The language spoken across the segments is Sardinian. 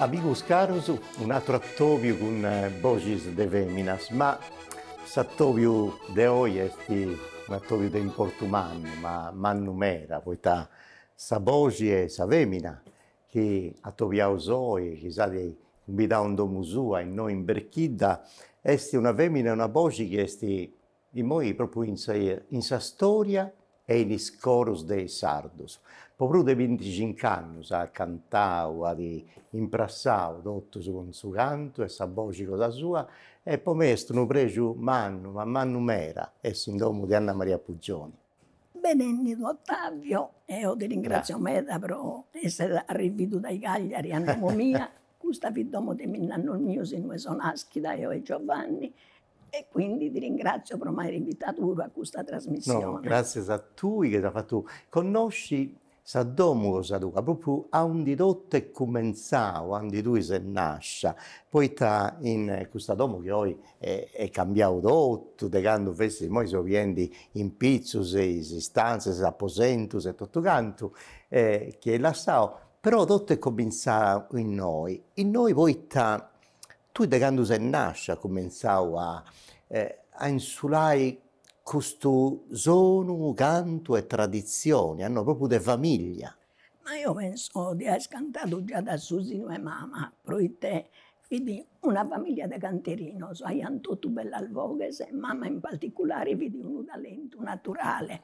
Amigos caros, un'atru atobiu cun boxis de feminas, ma s'atobiu de oi est un'atobiu de importu mannu, ma mannu meda, poita sa boxi 'e sa femina chi atobiaus oi, chi s'at cumbidau in domu sua, innoi in Berchidda, est una fèmina e una boxi chi est immoi propriu in sa storia e in is corus de is sardus. Po prus de bintixinc'annus at cantau, at imprassau totus cun su cantu e sa boxi cosa sua e po mei est unu prexu mannu, ma mannu meda, essi in domu de Anna Maria Puggioni. Benennidu Ottavio, eo ti ringratzio meda pro esser arrividu dai Cagliari a domo mia, custa fit domo de minnannos mios innue so naschida eo e Giovanni e quindi ti ringratzio pro m'aer invitadu puru a custa trasmissione. No, gratzias a tui chi as fatu connosci Sa domu cosa tua propriu aundi totu est cumentzau, aundi tui ses nascia, poita in custa domu chi oi est cambiau totu de candu fessit, imoi seu biendi in pitzus is istantzias, is aposentus e totu cantu chi est lassau, però totu est comintzau innoi, innoi poita Tui de candu ses nàscia as cumentzau a a insulai custu sonu, cantu e traditzioni, a no propriu de famìllia. Ma eo penso de aer cantadu già da su sinu 'e mama, proite fit una famìllia de canterinos, aiant totu bellas voghes, mama in particulare fit unu talentu naturale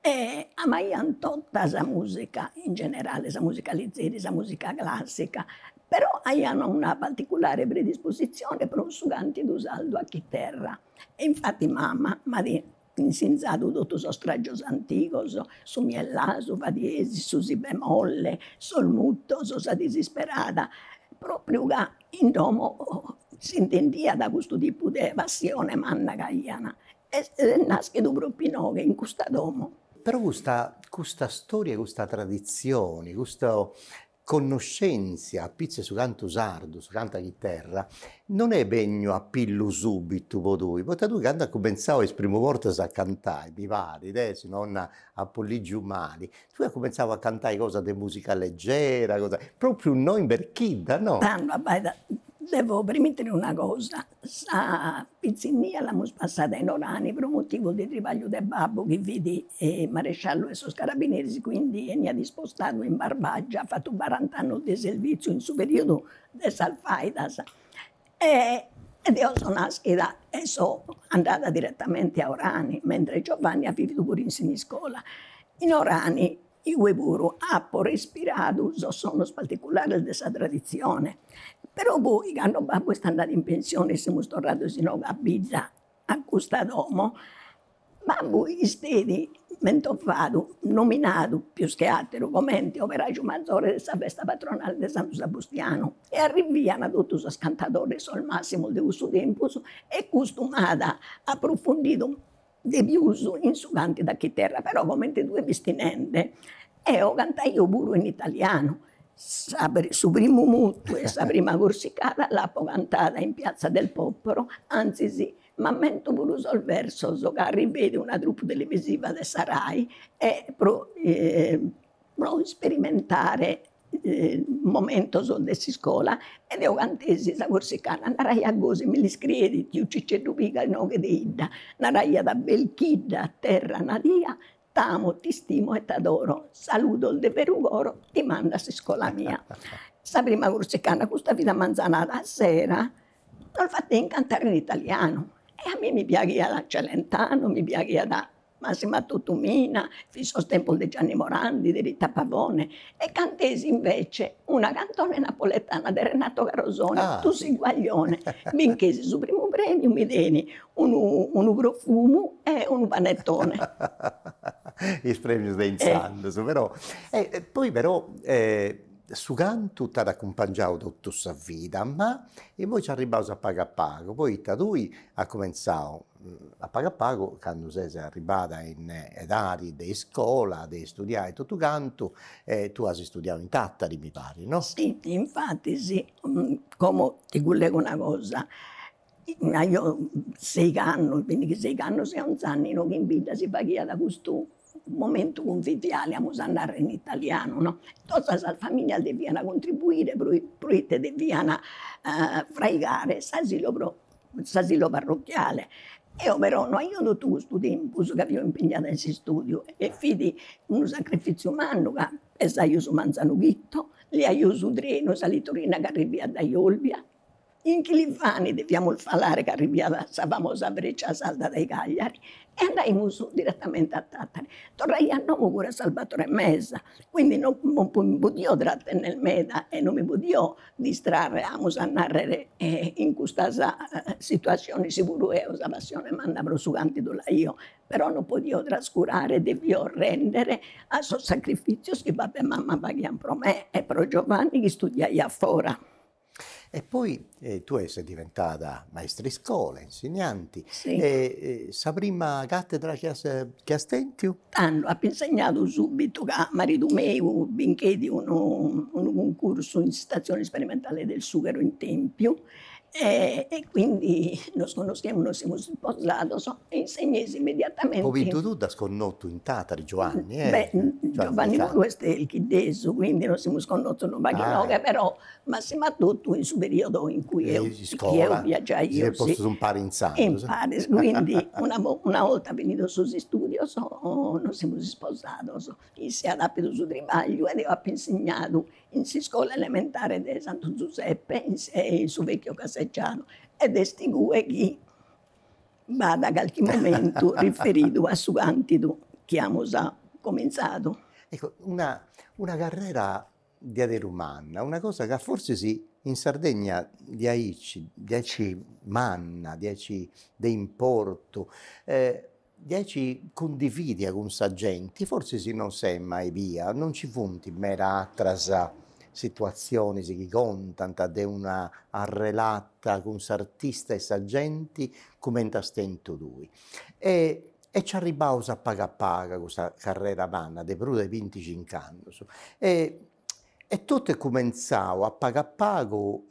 E amaiant tota sa musica in generale, sa musica lizeri, sa musica classica, però aiant una particulare predisposizione pro su cantidu sardu a chiterra. E infati mama m'at insinzadu totu sos tragios antigos, su mi e la, su fa diesi, su si bemolle, sos muttos, sa disisperada, propriu ca in domo s'intendiat custu tipu de passione manna chi aian Est nàschidu propriu inoghe, in custa domo. Però custa custa storia 'e custa traditzione, custa connoschèntzia apitzus 'e su cantu sardu, su cantu a chiterra, non est benniu a pillu subitu po tui, poita tui candu as cumentzau a is primu bortas a cantai, mi parit, e si non apu ligiu mali, Tui as cumentzau a cantai cosas de musica leggera, cosas, propriu innoi in Berchidda no? Tando abbaida, devo premitere una cosa, sa pitzinnia l'amus passada in Orani pro motivu de tribagliu de babbu chi fit maresciallu 'e sos carabineris, quindi 'eniat ispostadu in Barbagia, at fatu barant'annus de servìtziu in su periodu de sas faidas E deo so naschida e so andada diretamente a Orani, mentres Giovanni at vividu puru in Siniscola. In Orani igue puru apo respiradu sos sonos particulares de sa traditzione, però poi cando babbu est andadu in pensione e semus torrados inoghe a bidda a custa domo Babbu isteit mentovadu, nominadu pius che ateru comente operaju mazore de sa festa patronale de Santu Sabustianu e arriviana totu sos cantadores, sos massimos de cussu tempus e custu m'at approfundidu de pius in su cantidu a chiterra, però comente tue fisti nende eo cantaio puru in italianu, sa su primu mutu e sa prima corsicada l'apo cantada in piazza del popolo, anzis M'ammento puru sos versos ca arriveit una troupe televisiva de sa Rai e pro pro isperimentare momentos de s'iscola e deo cantesi sa corsicana, naraiat gosi mi l'iscrieit tiu Ciceddu Piga inoghe de 'idda, naraiat Belchidda terra nadia, t'amo, t'istimo e t'adoro, saludos de beru coro ti mando a s'iscola mia. Sa prima corsicana custa fit a manzanada, a sera Nos fatteit cantare in italianu e a mie mi piaghiat Celentano, mi piaghiat massima totu Mina, fin sos tempos de Gianni Morandi, de Rita Pavone e cantesi invece una cantone napoletana de Renato Carosone, Tu si guaglione, binchesi su primu premiu, mi dein unu unu profumu e unu panettone. Is premius de intzandus però, e poi però su cantu t'at acumpangiau totu sa vida, ma imoi nci arribbaus a pagu a pagu, poita tui as cumentzau a pagu a pagu candu ses arribbada in edadi de iscola, de istudiai e totu cantu, e tui as istudiau in Tàtari mi parit no? Si, infatti si, como ti collego una cosa Aio seigh'annos, bindighi seigh'annos e onz'annu inoghe in bidda si faghiat custu momentu conviviale, amus a narrer in italianu no, tota sas familias devian contribuire pro proite devian fraigare s'asilu pro s'asilu parrocchiale. Eo però no aio totu custu tempus ca fio impegnada in s'istudiu e fit unu sacrifiziu mannu ca pesaio su manzanu chito, leaio su trenu, sa litorina chi arriviat dae Olbia In Chilivani deviamus falare ca arriviat sa famosa Freccia Sarda dae Cagliari e andaimus direttamente a Tattari. Torraio a domo puru a sas bator e mesa, quindi no mi podio trattennere meda e no mi podio distrarre, amus a narrere, in custas situatziones puru eo sa passione manna pro su cantidu l'aio, però no podio trascurare, devio rendere a sos sacrifizios chi babbu e mama faghian pro me e pro Giovanni chi studiaiat fora E poi tue ses diventada maistriscola, insignanti, sa prima cattedra chi as chi as tentu? Tando apo insegnadu subbitu ca maridu meu bincheit unu unu cuncursu in s'Istazione Sperimentale del Sughero in Tempiu e e quindi nos connoschiemus, nos semus isposados e insegnei immediatamente. Po fintzas tui dd'as connotu in Tàtari, Giuanni, eh? Beh, Giuanni puru est Belchiddesu, quindi nos semus connotos unu pagu inoghe però Massimu totu in su periodu in cui eo viaggiaio seis postus impari intzandus. Imparis, quindi una una 'olta finidos sos istudios nos semus isposados, isse at appidu su tribagliu ed eo appo insignadu in s'iscola elementare de Santu Zuseppe in se in su vecchio caseggiato ed est igue chi b'at calchi momentu riferidu a su cantigu chi amus comintzadu. Ecco una una carrera diaderu manna, una cosa ca forsis in Sardegna diaici diaici manna, diaici de importu, diaici cundividia cun sa genti, forsis non s'est mai bia, non nci funt meda atras situazionis chi contant de una arrelata tra s'artista e sa genti cumenti as tentu tui e E nci arribbaus a pagu a pagu a custa carrera manna de prus de binticinch'annus e e totu est cumentzau a pagu a pagu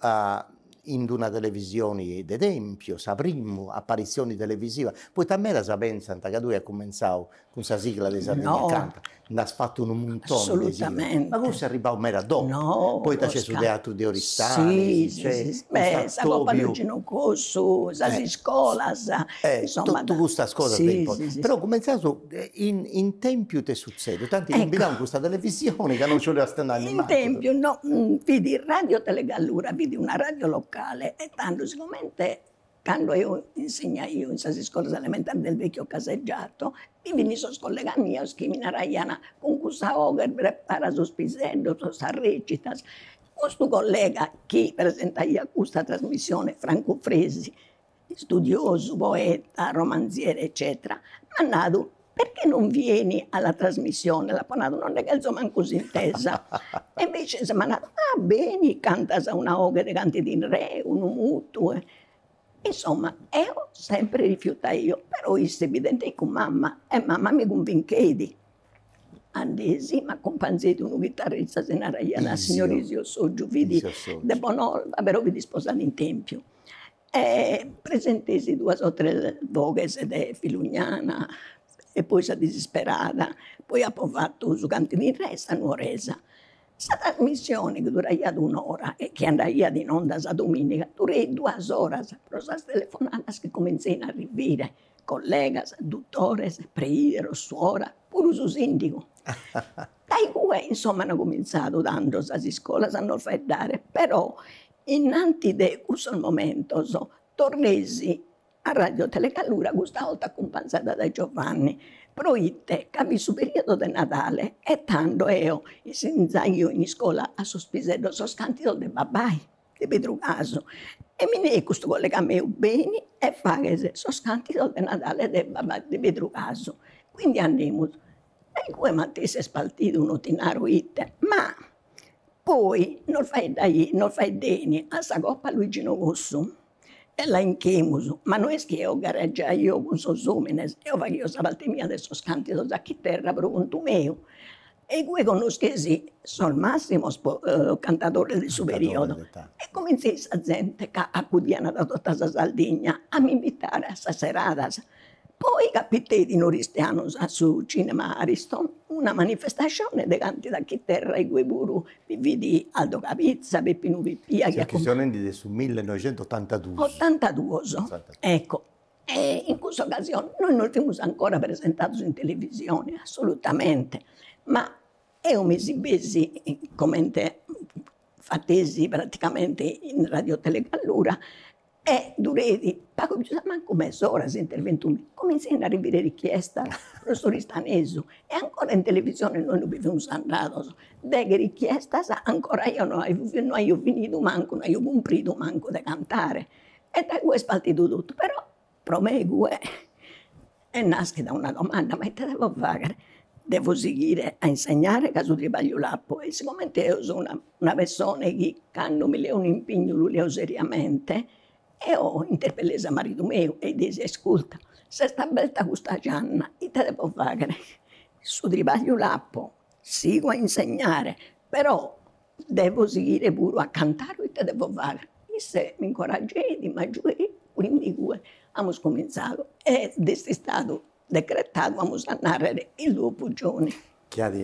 in d'una televisioni de Tempiu, sa primu aparissioni televisiva, poita medas pentzant ca tui as cumentzau cun sa sigla de Sardegna Canta Nd'as fatu unu muntoni. Assolutamente. Ma custu est arribbau meda dopu. No, posca. Poita nc'est su teatru de Oristani. Si, si, si. Beh, sa copa de Ginu Cossu, sas iscolas, insoma. Totu custas cosas de importu. Si, si, si. Però cumentzaus in in Tempiu ite sutzedit, t'ant cumbidau in custa televisioni ca non nci 'oliast andai nemancu. In Tempiu no, fit Radio Tele Gallura, fit una radio locale e tando sigomente Cando eo insegnaio in sas iscolas elementares del vecchio caseggiato, bi fini sos collegas mios chi mi naraian, cun cussa 'oghe prepara sos piseddos a sas recitas. Custu collega chi presentaiat custa trasmissione, Franco Fresi, istudiosu, poeta, romanziere eccetera, m'at nadu, Perchè non vieni alla trasmissione, l'apo nadu, no nde chelzo mancu s'intesa. E invece m'at nadu, ah beni, cantas una 'oghe de cantu in re, unu mutu. Insomma, eo sempre rifiutaio, però isse evidente cun mama e mama mi cunvincheit. Andesi, m'acumpanzeit unu chitarrista, si naraiat signor Isio Soggiu, fit de Bonorva, però fit isposadu in Tempiu E presentesi duas o tres boghes de filugnana e poi sa disisperada, poi apo fatu su càntidu in re e sa nuoresa. Sa trasmissione chi duraiat un'ora e chi andaiat in onda sa domìniga dureit duas oras pro sas telefonadas chi cumentzein a arrivire, collegas, dutores, preideros, suora, puru su sìndigu. Dai igue insomma an cumintzadu tando sas iscolas a nos faeddare, però Innanti de cussos momentos torresi a Ràdio Telegallura, custa 'olta acumpanzada dae Giovanni, proite ca fit su periodu de Nadale e tando eo insinzaio in iscola a sos piseddos sos càntidos de babbai, de Pedru Casu, e mi neit custu collega meu, beni e faghes sos càntidos de Nadale de babbai, de Pedru Casu. Quindi andemus E igue matessi est partidu no ti naro ite, ma poi nos faeddai nos faeddeni a sa coppa Luigino Cossu e la inchemus, ma no est chi eo gareggiaio cun sos omines, eo faghio sa parte mia de sos cantidos a chiterra pro contu meu e igue connoschesi sos massimos cantadores de su periodo e cominzeit sa zente ca accudianat da tota sa Sardigna a m'invitare a sas seradas Poi capiteit in Oristianos a su cinema Ariston una manifestascione de càntidu a chiterra igue puru bi fit Aldo Cabizza, Peppinu Pippia chi. Chi seu nendi de su millenoixentuotantaduus. Otantaduos, ecco. E in cussa ocasione nois non fimus ancora presentados in televisione, assolutamente, ma eo mi esibesi comente fatesi praticamente in Radiotelegallura E dureit pagu pius a mancu mes'ora s'interventu, cumintzein a arrivire richiestas pro s'Oristanesu e ancora in televisione nois non bi fimus andados, deghe richiestas ancora eo no aio no aio finidu mancu, no aio cumpridu mancu de cantare e dae cue est partidu totu, però pro me igue Est nàschida una domanda, ma ite devo fàghere? Devo sighire a insegnare ca su tribagliu l'apo e sigomente eo so una una pessone chi cando mi leo un'impignu lu leo seriamente, eo interpellesi a maridu meu e li nesi, asculta, s'est aberta custa gianna, ite devo fàghere? Su tribagliu l'apo, sigo a insegnare, però Devo sighire puru a cantare ite devo faghere? Isse m'incorageit, m'agiueit, quindi igue amus comintzadu ed est istadu decretadu, amus a nàrrere, su Duo Puggioni. Chi at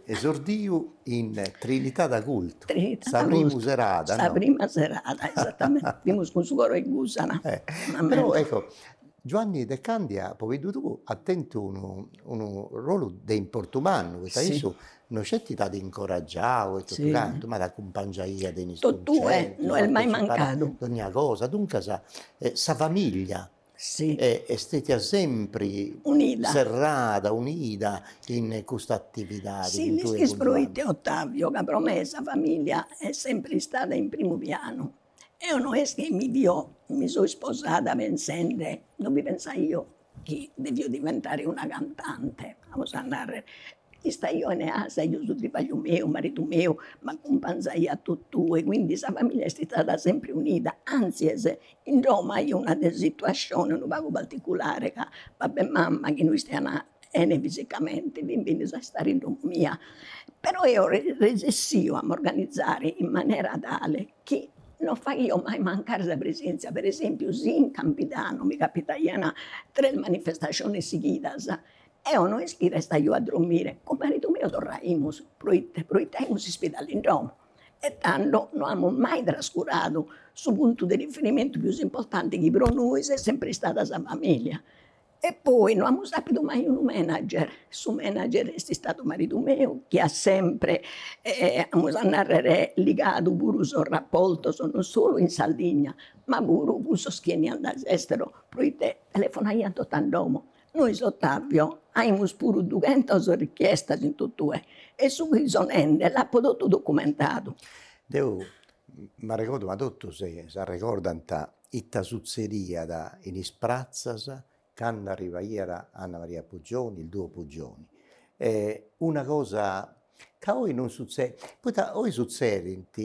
esordiu in Trinità d'Agultu. Trinità d'Agultu. Sa primu serada, no? Sa prima serada, esatamenti, fimus cun su coro 'e Gusana. Però ecco, Giuanni De Candia, pobiddu tuu, at tentu unu unu ruolu de importu mannu, poita issu No sceti t'at incoragiau e totu cantu, ma t'acumpangiaiat in is cuncertus. Totue, no est mai mancadu. Dogna cosa, duncas sa familia est stetia sempri, unida, serrada, unida in custa atividadi. Si, l'ischis proite Ottavio, ca pro me sa familia est sempri istada in primu pianu. Eo no est chi mi fio, mi so isposada pensende, no mi pensaio chi devio diventare una cantante, amus a narrer, istaio in casa, aio su tribagliu meu, maridu meu m'acumpanzaiat a totue e quindi sa familia est istada sempre unida, anzis in domo aio una situascione unu pagu particulare ca babbu e mama chi no istian 'ene fisicamente fin bennidos a istare in domo mia, però eo resessio a m'organizare in manera tale chi no faghio mai mancare sa presèntzia, per esèmpiu si in Campidanu mi capitaian tres manifestascionis sighidas, eo no est chi restaio a dromire, cun maridu meu torraimus, proite proite aimus s'ispidali in domo e tando no amus mai trascuradu su puntu de riferimentu pius importante chi pro nois est sempre istada sa familia E poi no amus apidu mai unu manager, su manager est istadu maridu meu chi at sempre amus a narrer ligadu puru sos rapportos non solu in Sardigna ma puru cun sos chi 'eniant dae s'esteru proite telefonaiant totu a domo. Nois Ottavio aimus puru dughentas richiestas in totue e su chi so nende l'apo totu documentadu. Deu m'arregordu ma totu si s'arregordant Ita sutzediat in is pratzas candu arribaiat Anna Maria Pugioni, il duo Pugioni. Una cosa ca oi non sutzedit, poita oi sutzedint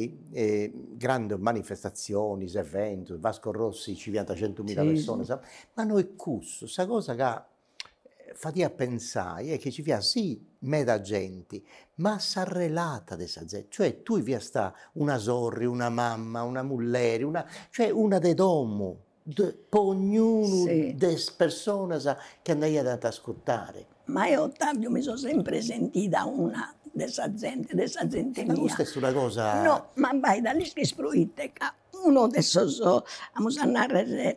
grandis manifestatzionis, eventus, Vasco Rossi nci fiant centumilla personas, ma no est cussu, sa cosa chi fadiat pensai est chi nci fiat si meda genti, ma sa relata de sa zenti cioè tui fiast una sorri, una mamma, una mulleri, una cioè una de domu po ognunu de is personas chi andaiant a t'ascurtare. Ma eo Ottaviu mi so sempre sentida una de sa zente, de sa zente mia. Ma custa est una cosa. No, ma b'aiat a l'ischis proite ca unu de sos amus a narrer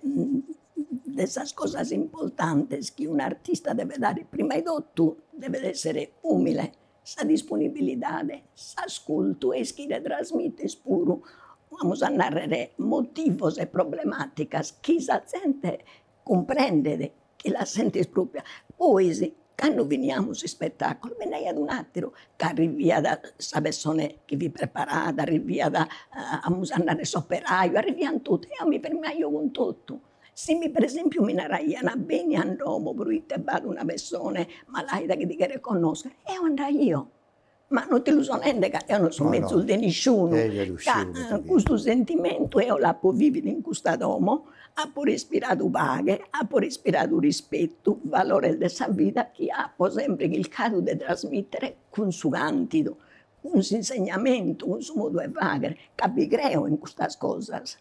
De sas cosas importantes chi un'artista devet aer prima 'e totu, devet esser umile, sa disponibilidade, s'ascurtu e ischire trasmitter puru, amus a narrer, motivos e problematicas chi sa zente cumprendet, chi las sentit proprias. Poi si Cando finiamus s'ispetàculu nd'aiat un'àteru ca arriviat sa pessone chi fit preparada, arriviat amus a narrer s'operaju, arriviant totu e eo mi firmaio cun totu. Si mi per esempiu mi naraian beni a domo proite b'at una pessone malaida chi ti cheret connoscher, eo andaio ma non ti lu so nende ca eo non so mezus de nisciunu, ca custu sentimentu eo l'apo vividu in custa domo, apo respiradu paghe, apo respiradu rispetu, valores de sa vida chi apo sempre chircadu de trasmittere cun su cantidu, cun s'insegnamentu, cun su modu 'e fagher, ca bi creo in custas cosas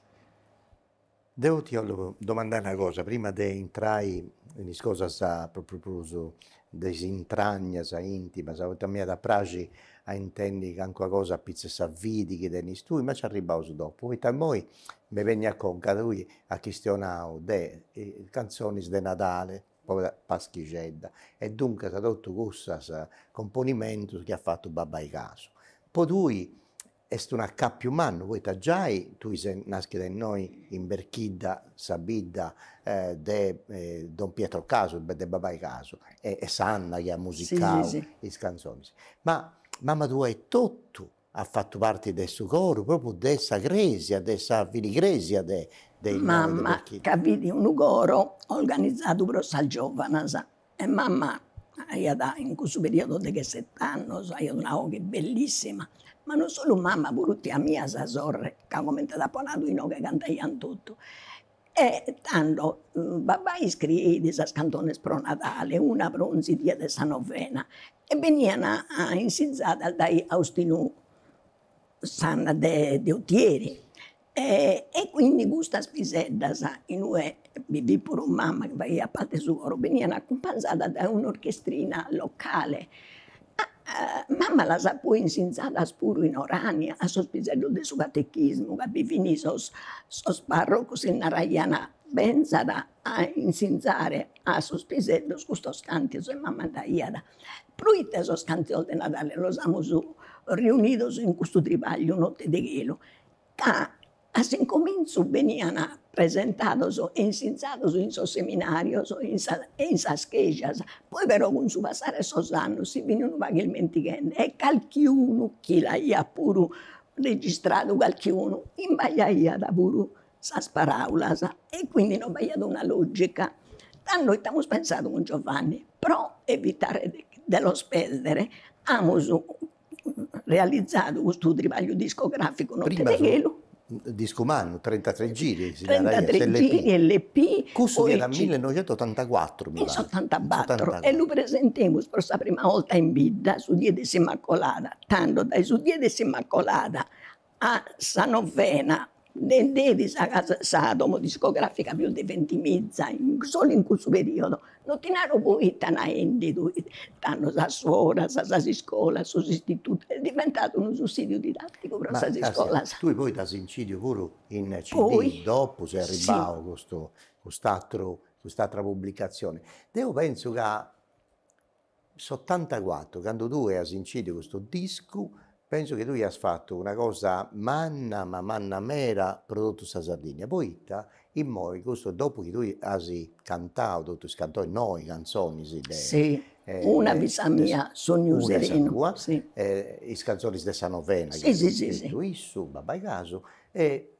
Deu ti 'ollu domandai una cosa prima de intrai in is cosas propriu de is intragnas intimas, poita mi iat a praxi a intendi calincuna cosa apitzus 'e sa fidi chi tenis tui, ma nci arribbaus dopu, poita immoi mi benit a conca, tui as chistionau de cantzonis de Nadale po paschixedda, e duncas totu cussas, componimentus chi at fatu babbai Casu, po tui Est un'acàpiu mannu poita giai tui ses nàschida innoi in Berchidda, sa bidda de don Pietro Casu, de babai Casu, e Sanna chi at musicau is canzonis. Ma mama tua etotu at fatu parti de su coru, propriu de sa crèsia, de sa filigresia de... Mama ca fit unu coro organizadu pro sas giovanas, e mama aiat in cussu periodu de deghesset'annos aiat una 'oghe bellissima, ma non solu mama puru tia mia sa sorre ca comente t'apo nadu inoghe cantaian totu e tando babbai scrieit sas cantones pro Nadale, una pro 'onzi die de sa novena e benian insinzadas dae Austinu Sanna de Otieri E quindi custas piseddas in ue bi fit puru mama chi faghiat parte su coro benian acumpanzadas dae un'orchestrina locale. Mama las at poi insinzadas puru in Orania a sos piseddos de su catechismu ca bi fin sos parrocos chi naraian, benzat a insinzare a sos piseddos custos cantidos e mama andaiat. Proite sos cantidos de Nadale los amus riunidos in custu tribagliu Notte de chelu, ca a s'incomintzu beniant presentados e insinzados in sos seminarios e in sas chèjas, poi però cun su passare 'e sos annos si fin unu pagu ismentighende e calchi unu chi l'aiat puru registradu calchi unu imbagliaiat puru sas paràulas e quindi non b'aiat una logica. Tando ite amus pensadu cun Giovanni, pro evitare de los pèrdere amus realizadu custu tribagliu discograficu Notte de chelu. Discu mannu, trentatrè giri si naraiat, s'LP. Trentatrè giri, LP, poi. Custu fiat millenoixentusotantacuatru mi parit. In s'otantabatru e lu presentemus pro sa prima 'olta in bidda su die de s'Immacolada, tando dae su die de s'Immacolada A sa novena bendeit sa casa sa domo discografica pius de vintimiza in solu in cussu periodo, non ti naro poita naendidu tando sas suoras, sas iscolas, sos istitutus, est diventadu unu sussidiu didatticu pro sas iscolas. Tui poi dd'as incidiu puru in CD, dopu est arribau custu cust'atteru cust'attra pubblicazione. Deu penzu ca S'otantacuatru, candu tue as incidiu custu discu, pensu chi tue ias fatu una cosa manna, ma manna meda pro totu sa Sardigna, poita immoi custu dopu chi tue as cantau totu is cantonis noi, cantzonis de Si, una fit sa mia, Sognu serenu, una sa tua, is cantzonis de sa novena, chi at scritu issu, babbai Casu, e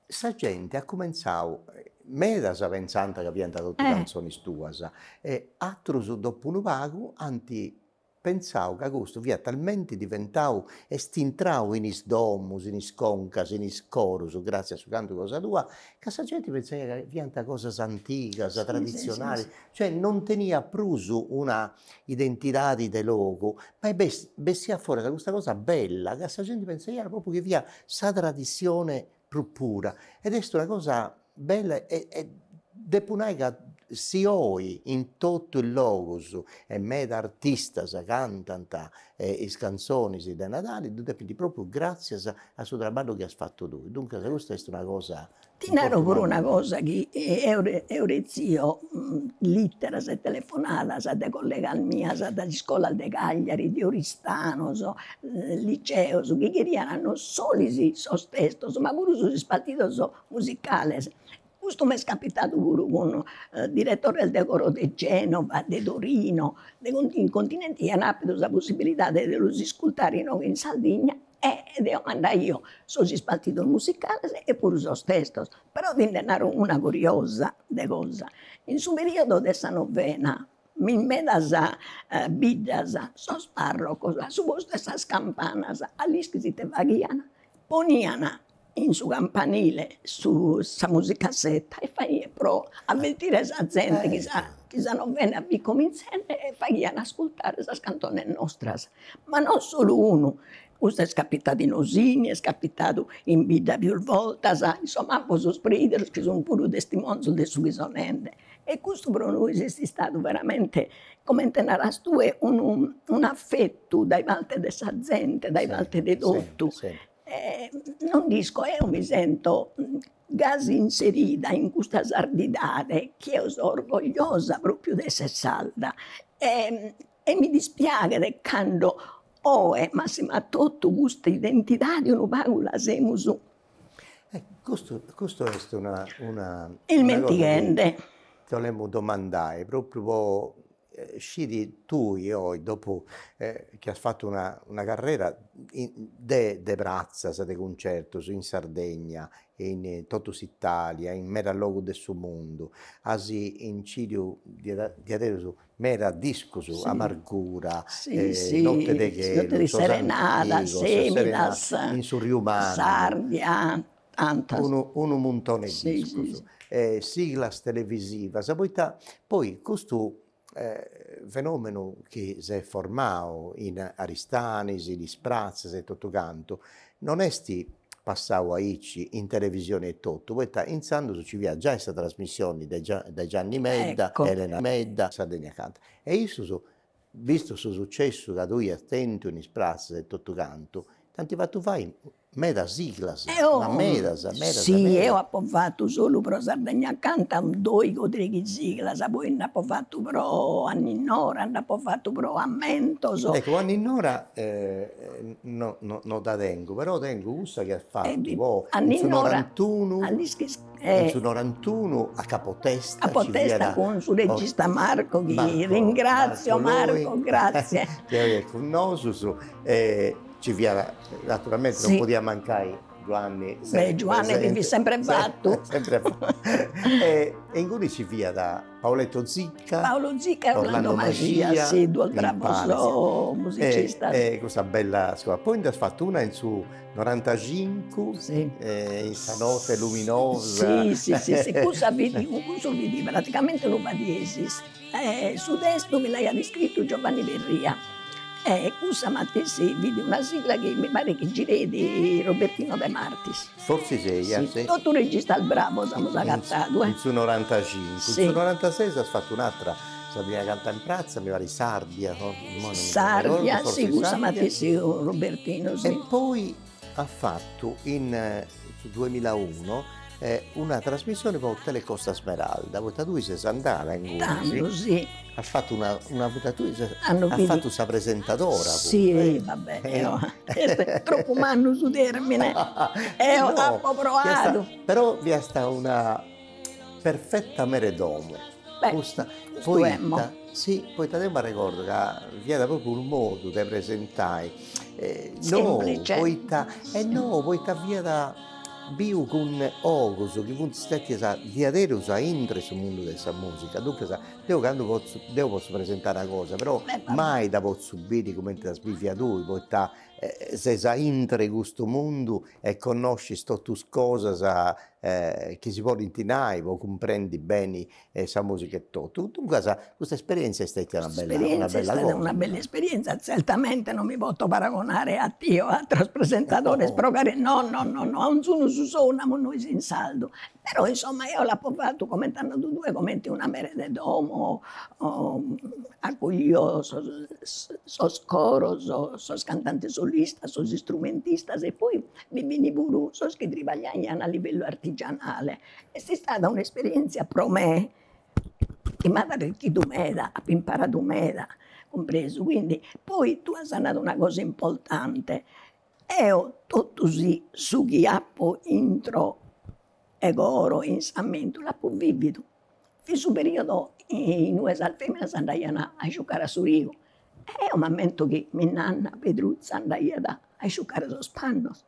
Sa gente at cumentzadu, medas pentzant ca fiant totu cantzonis tuas, e atrus dopu unu pagu ant pentzadu ca custu fiat talmenti diventadu, est intradu in is domus, in is concas, in is corus, gratzias a su cantu cosa tua, ca sa genti pentzaiat ca fiant cosas antigas, traditzionalis, cioè non teniat prus una identidadi de logu, ma bessiat foras custa cosa bella ca sa genti pensaiat propriu chi fiat sa tradissione prus pura ed est una cosa bella e e depu nai ca si oi in totu is logus e meda artistas cantant is cantzonis de Nadali ddu depint propriu gràtzias a su traballu chi as fatu tui, duncas custa est una cosa Ti naro puru una cosa chi eo eo rezio lìteras e telefonadas de collegas mias dae is iscolas de Cagliari, de Oristano, sos liceos chi cheriant non solu sos testos ma puru sos ispartidos musicales. Custu m'est capitadu puru cun diretores de coro de Genova, de Torino, de in continenti iant appidu sa possibilidadi de los iscurtare inoghe in Sardigna E deo mandaio sos ispartidos musicales e puru sos testos. Però ti nde naro una curiosa de cosa, in su periodo de sa novena, mi in medas biddas sos parrocos a su postu 'e sas campanas a l'ischis ite faghian, ponian in su campanile su sa musicassetta e faghiat pro avvertire sa zente chi sa chi sa novena fit comintzende e faghian ascurtare sas cantones nostras, ma non solu unu, custu est capitadu in Osini, est capitadu in bidda pius bortas, insomma apo sos prideros chi sun puru testimonzos de su chi so nende e custu pro nois est istadu veramente, comente naras tue, unu un'affettu dae parte de sa zente, dae parte de totu non nd'isco, eo mi sento gasi inserida in custa sardidade chi eo so orgogliosa propriu de essere sarda e e mi dispiaghet cando oe massima totu custa identidade unu pagu la semus custu custu est una una ismentighende. Ti 'olemu domandai propriu po sciri tui oi dopu chi as fatu una una carrera de de pratzas de cuncertus in Sardegna e in totu s'Italia in meda logus de su mundu as incidiu diaderus meda discus, Amargura, Notte de chelu, Sos antigos, Serenata, Semidas, In su Riu Mannu, Sardia, ant unu muntone 'e discus e siglas televisivas poita poi custu fenomenu chi s'est formau in Aristanis in is pratzas e totu cantu non est passau aici in televisioni e totu poita intzandus nci fiat giai sa trasmissioni de de Gianni Medda Elena Medda Sardegna Canta e issus bistu su sucessu chi tui iast tentu in is pratzas e totu cantu t'ant fatu fai Medas siglas, ma medas, medas, medas. Si eo apo fatu solu pro Sardegna Canta doighi o treighi siglas, poi nd'apo fatu pro Anninnora, nd'apo fatu pro Ammentos. Ecco, Anninnora no no no dda tengu, però tengu cussa chi as fatu po Anninnora, in su norantunu, a l'ischis in su norantunu a Capo Testa, a Capo Testa cun su regista Marco chi ringrazio, Marco grazie, chi est cun nosus e ci fiat Naturalmente non podiat mancai Giuanni Beh Giuanni chi fit sempre fattu sempre fattu e e ingunis ci fiat Paoletto Zicca Paolo Zicca Orlando Maxia si duos bravos musicistas e e custa bella scola poi nd'as fattu una in su norantacincu si e in sa notte luminosa si si si si cussa fit cussu fit praticamente unu fa diesis Su testu mi l'aiat iscritu Giovanni Perria e cussa matessi fit una sigla chi mi paret chi gireit Robertino De Martis. Fortzis eia. Si, totus registas bravos amus agatadu, eh. In su norantacincu. In su norantasei nd'as fatu un'atra, Sardegna Canta in pratza, mi parit Sàrdia, imoi non mi dda arregodu, fortzis Sàrdia. Sàrdia, si, cussa matessi Robertino, si. E poi as fatu in su duemilaunu una trasmissioni po Telecosta Smeralda poita tui ses andada ingunis, tando si, as fatu una una tui ses as fatu sa presentadora puru, si va beni eo est tropu mannu su termine eo apo proadu, però fiasta una perfetta mere 'e domo custa poita si poita deu m'arregordu ca fiat propriu unu modu de presentai nou poita e nou poita fiat biu cun ogus chi funt stètius diaderus a intro 'e su mundu de sa musica, duncas deu candu potzu deu potzu presentai una cosa però mai dda potzu biri cumenti as bìvia tui poita ses a intro 'e custu mundu e connoscis totu is cosas chi si podint nai po cumprendi beni sa musica e totu, duncas custa esperienzia est stetia una bella cosa. Una bella esperienzia, zertamente non mi poto paragonare a ti o a ateros presentadores pro cari, no no no no, a onzunu su sou namus nois in sardu, però insomma eo l'apo fatu comente as nadu tue comente una mere de domo accoglio sos coros, sos cantantes solistas, sos istrumentistas e poi bi fini puru sos chi tribagliaian a livellu artigianale, est istada un'esperienzia pro me chi m'at arricchidu meda, apo imparadu meda, cumpresu, quindi poi tue as nadu una cosa importante, eo totu si su chi apo intro 'e coro in s'ammentu l'apo vividu In su periodu in ue sas feminas andaian a isciucare a su riu e eo m'ammento chi minnanna Pedruzza andaiat a isciucare sos pannos.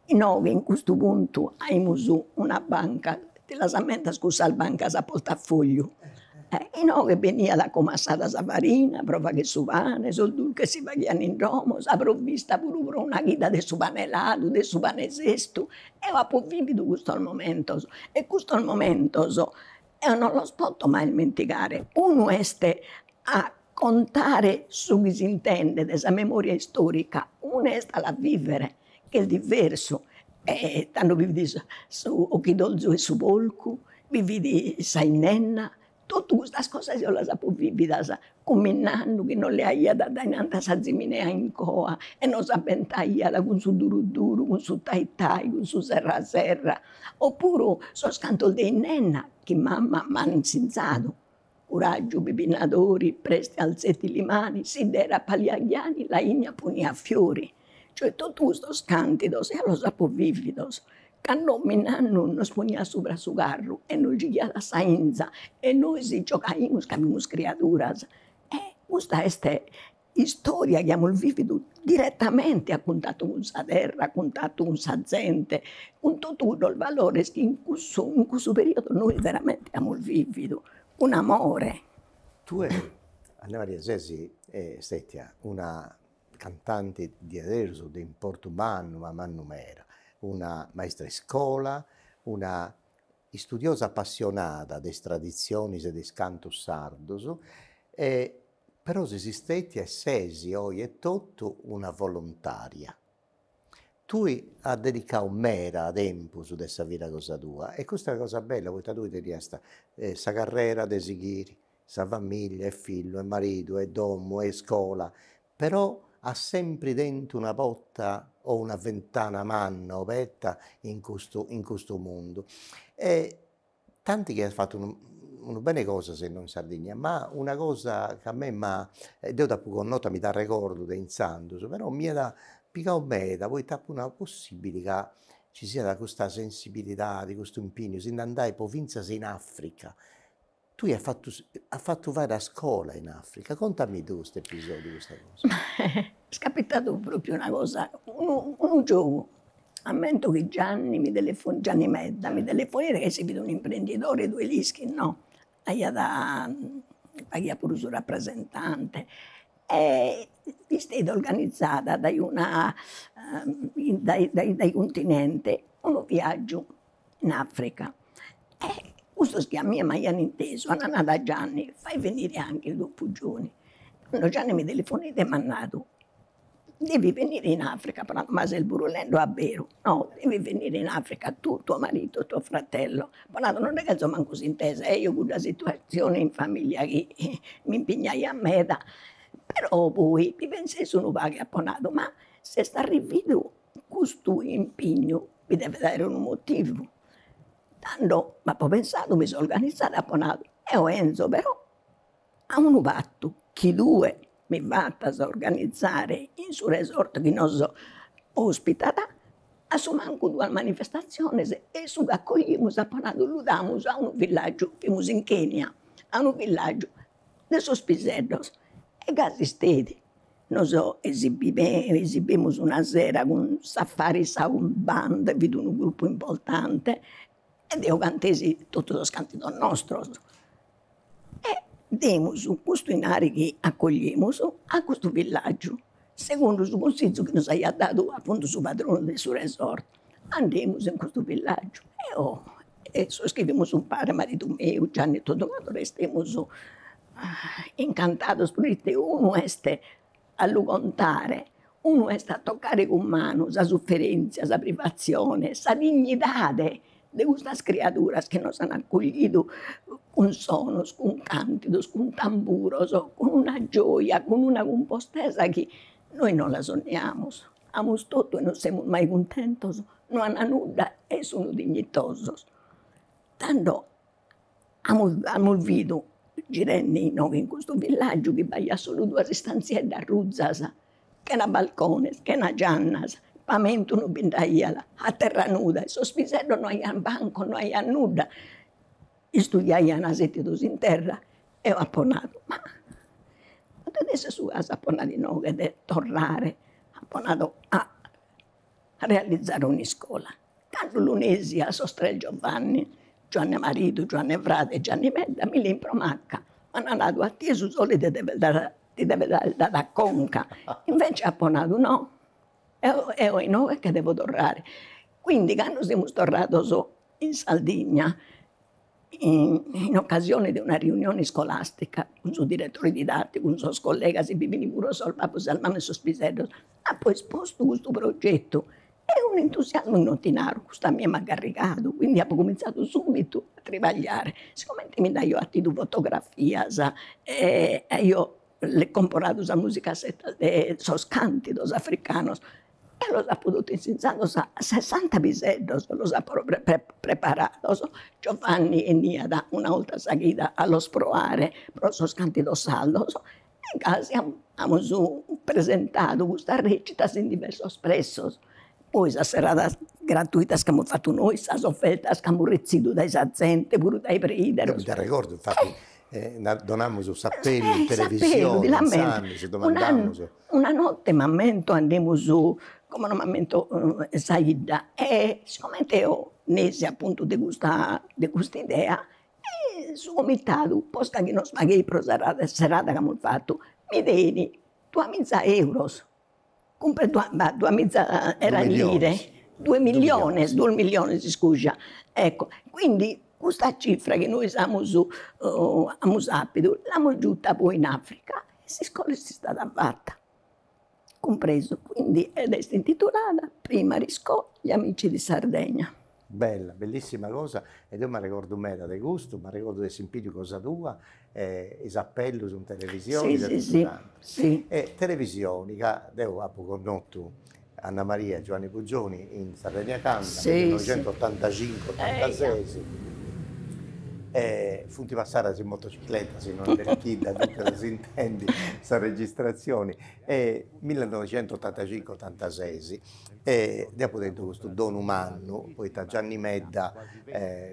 Inoghe in custu puntu aimus una banca, ti las ammentas cussas bancas a portafogliu, inoghe beniat comassada sa farina pro fagher su pane, sos durches si faghian in domo, sa provvista puru pro una chida de su pane ladu, de su pane sestu Eo apo vividu custos momentos e custos momentos eo non los poto mai ismentigare, unu est a contare su chi s'intendet sa memoria istorica, unu est a la vivere chi est diversu e tando bi fit su 'occhidolzu 'e su polcu, bi fit sa 'innenna Totu custas cosas eo las apo vividas cun minnannu chi nos leaiat addainanti a sa ziminea in coa e nos abbentaiat cun su duru duru, cun su tai tai, cun su serra serra, oppuru sos cantos de 'innenna chi mamma m'at insinzadu, curaggiu bibbinnadori, prest'e alzeti li mani, sidd'era pa li 'agghjani, la 'igna punia fiori, cioè totu custos cantidos eo los apo vividos Ca nonnu mannu nos poniat subra su carru e nos giughiat a sa 'inza e nois giogaimus ca fimus criaduras. E custa est istoria chi amus vividu diretamenti a cuntatu cun sa terra, a cuntatu cun sa zente, cun totu sos valores chi in cussu in cussu periodu nois veramenti amus vividu cun amore. Tue Anna Maria ses stetia una cantante diaderus de importu mannu ma mannu meda, una maistra 'e iscola, una istudiosa appassionada de is traditzionis e de is cantus sardus e però sesi stetia e ses oi etotu una volontària. Tui as dedicau meda tempus de sa vida cosa tua e custa est una cosa bella poita tui tenias sa carrera de sighiri sa famiglia e fillu e maridu e domu e iscola però at sempri tentu una porta, una fentana manna oberta in custu in custu mundu e tanti chi at fattu unu unu bene 'e cosas innoi in Sardigna ma una cosa chi a mei m'ha e deu d'apo connota mi d'arregordu de intzandus però mi at pigadu meda poita apo nadu possibili ca ci siat custa sensibilidadi, custu impignu si nd'andai po finzas in Africa Tui as fatu as fatu fai a scola in Africa, contami tui custu episodiu, custa cosa. Est capitadu propriu una cosa, unu giogu, ammento chi Gianni mi telefo Gianni Medda mi telefoneit ca isse fit un'imprendidori tue l'ischis no, aiat faghiat puru su rapresentante e isteit organizada dae una dae dae dae Continente unu viaggiu in Africa e cussos chi a mie m'aian intesu an nadu a Gianni, fai venire anche dopu Gioni, tando Gianni mi telefoneit e m'at nadu, devi venire in Africa, apo nadu ma ses burulende a beru, no devi venire in Africa tu, tuo marito e tuo fratello, apo nadu non nde cherzo mancu s'intesa, e eo cudda situatzione in familia chi m'impignaiat meda, però poi mi pensesi unu pagu e apo nadu, ma s'est arrividu Custu impignu nde devet aer unu motivu, tando m'apo pensadu mi so organizada e apo nadu, eo 'enzo però a unu patu chi tue mi fatas organizare in su resort chi nos ospitat a su mancu duas manifestaziones e su ch'acoglimus apo nadu lu damus a unu villaggiu, fimus in Kenia, a unu villaggiu de sos piseddos e gasi isteit Nos esibemus una sera cun Safari Sound Band, fit unu gruppu importante e deo cantesi totu sos cantidos nostros. E demus custu 'inari chi accogliemus a custu villaggiu, segundu su cunsizu chi nos aiat dadu appuntu su padronu de su resort Andemus in custu villàgiu. e sos chi fimus umpare, maridu meu, Gianni e totu cantos restemus incantados proite unu est a lu contare, unu est a tocare cun manu sa suferèntzia, sa privatzione, sa dignidade de custas criaduras chi nos an acollidu cun sonos, cun càntidos, cun tamburos, cun una gioja, cun una cumpostesa chi nois non la sonniamus. Amus totu e non semus mai cuntentos, no an nudda e sun dignitosos. Tando amus bidu, girende inoghe in custu villaggiu chi b'aiat solu duas istanzieddas ruzas, chena balcones, chena giannas, pamentu non bi nd'aiat, a terra nuda, sos piseddos no aian bancos, no aian nudda Istudiaian setidos in terra, eo apo nadu, ma totu is suas apo nadu inoghe che det torrare, apo nadu a realizare un'iscola. Candu lu nesi a, sos tres Giovanni, Giuanne maridu, Giuanne frade e Gianni Medda, mi lein pro macca, m'an nadu, a tie su sole ti devet aer dadu a conca, invece apo nadu no Eo inoghe che devo torrare. Quindi cando semus torrados in Sardigna in occasione de una riunione scolastica cun su diretore didatticu, cun sos collegas, bi fin puru sos babos, sas mamas 'e sos piseddos, apo espostu custu progettu e unu entusiasmu chi no ti naro, custu a mie m'at garrigadu, quindi apo cominzadu subitu a tribagliare, sigomente mi nd'aio 'attidu fotografias e aio comporadu sa musicasseta de sos càntidos africanos e los apo totu insinzados, sessanta piseddos los apo preparados. Giovanni 'eniat una 'olta sa chida a los proare pro sos càntidos sardos e gasi amus presentadu custas recitas in diversos plessos. Poi sas serradas gratuitas chi amus fatu nois, sas ofertas chi amus retzidu dae sa zente, puru dae preideros. Deo mi nd'arregordo, infati donamus s'apellu in televisione, si domandamus. Una notte m'ammento andemus, como no m'ammento sa 'idda, e sigomente eo nesi appuntu de custa de cust'idea e su comitadu, posca chi nos pagheit pro sa serrada chi amus fatu, mi deit duamiza euros duas miza era lire, duos milliones, duos milliones iscuja. Ecco, quindi custa cifra chi nois amus amus apidu l'amus giuta poi in Africa e s'iscola est istada fata, cumpresu, quindi est intitulada Primary School gli Amici di Sardegna Bella, bellissima cosa e deo m'arregordu meda de custu, m'arregordu de essi biu cosa tua e is apellus in televisioni e totu cantu. E televisioni ca deu apu connotu Anna Maria e Giuanni Pugioni in Sardegna Canta nel millenoixentottantacincu, ottantases e funt passadas in motocicletta, si no est Berchidda, duncas s'intendi sa registrazioni, millenoixentottantacincu, otantases E deo apo tentu custu donu mannu, poita Gianni Medda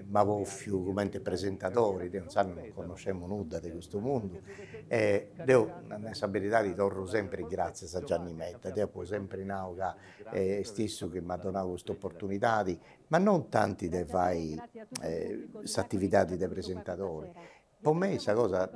m'at bòfiu cumenti presentadori, deo insaras non connoscemu nudda de custu mundu, e deo a nai sa beridadi torru sempri is gratzias a Gianni Medda, deo apo sempri nau ca est issu chi m'at donau custa opportunidadi, ma non tanti de fai s'atividadi de presentadori Po mei sa cosa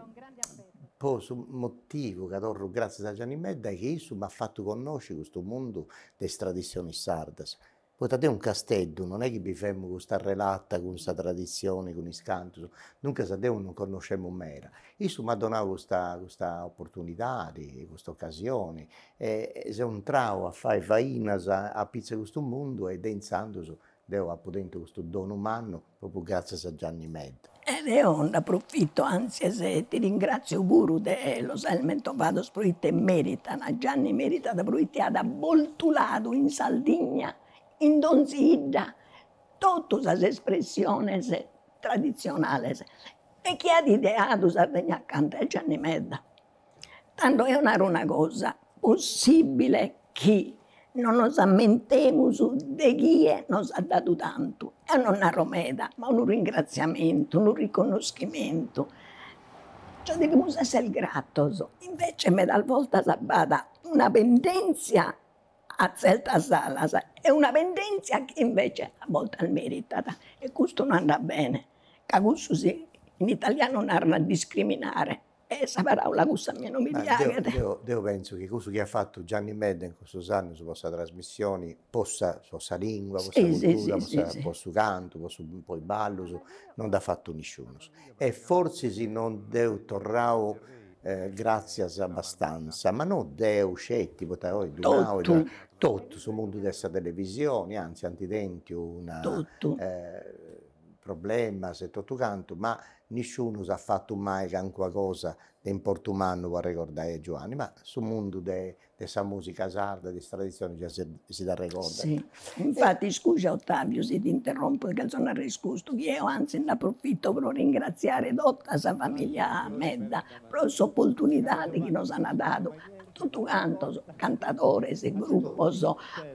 po su motivu ca torru gratzias a Gianni Medda est chi issu m'at fatu connosci custu mundu de is traditzionis sardas, poita deu in Casteddu non est chi bivemu custa relata cun sa traditzioni, cun is cantus, duncas deu non connoscemu meda, issu m'at donau custa custa opportunidadi, custa occasioni e seu intrau a fai fainas apitzus de custu mundu e de intzandus deu apu tentu custu donu mannu Propriu grazias a Gianni Medda. E deo nd'aprofito antzes e ti ringratzio puru de los aer mentovados proite meritan a Gianni meritat proite at boltuladu in Sardigna in donzi 'idda totu sas espressiones tradizionales e chie at ideadu Sardegna Canta est Gianni Medda. Tando eo naro una cosa, possibile chi non nos ammentemus de chie nos at dadu tantu, eo non naro meda, ma unu ringraziamentu, unu riconnoschimentu, cioè devimus esser gratos, invece medas voltas b'at una pendenzia a zertas alas e una pendenzia chi invece a voltas meritat e custu no andat bene, ca cussu si in italianu narat discriminare E sa paraula cussa a mie non mi piaghet. Deo deo pentzu chi cussu chi at fatu Gianni Medda in cussus annus po sa trasmissioni, po sa po sa lingua, po sa cultura, po sa po su cantu, po su po is ballus, non dd'at fatu nisciunus. E fortzis non dd'eus torrau gratzias abastanza, ma no deu sceti, poita ois ddu nau, totu su mundu de sa televisioni, anzis ant tentu unu problemas e totu cantu, ma nisciunus at fatu mai cancuna cosa de importu mannu po arregordai a Giuanni, ma su mundu de de sa musica sarda e de is traditzionis già si si dd'arregordat. Si, infati scuja Ottaviu si t'interrompo ca so narrer custu, chi eo antzis nd'aprofito pro ringratziare tota sa familia Medda pro s'opportunidadi chi nos ana dadu Totu cantos, cantadores, grupos,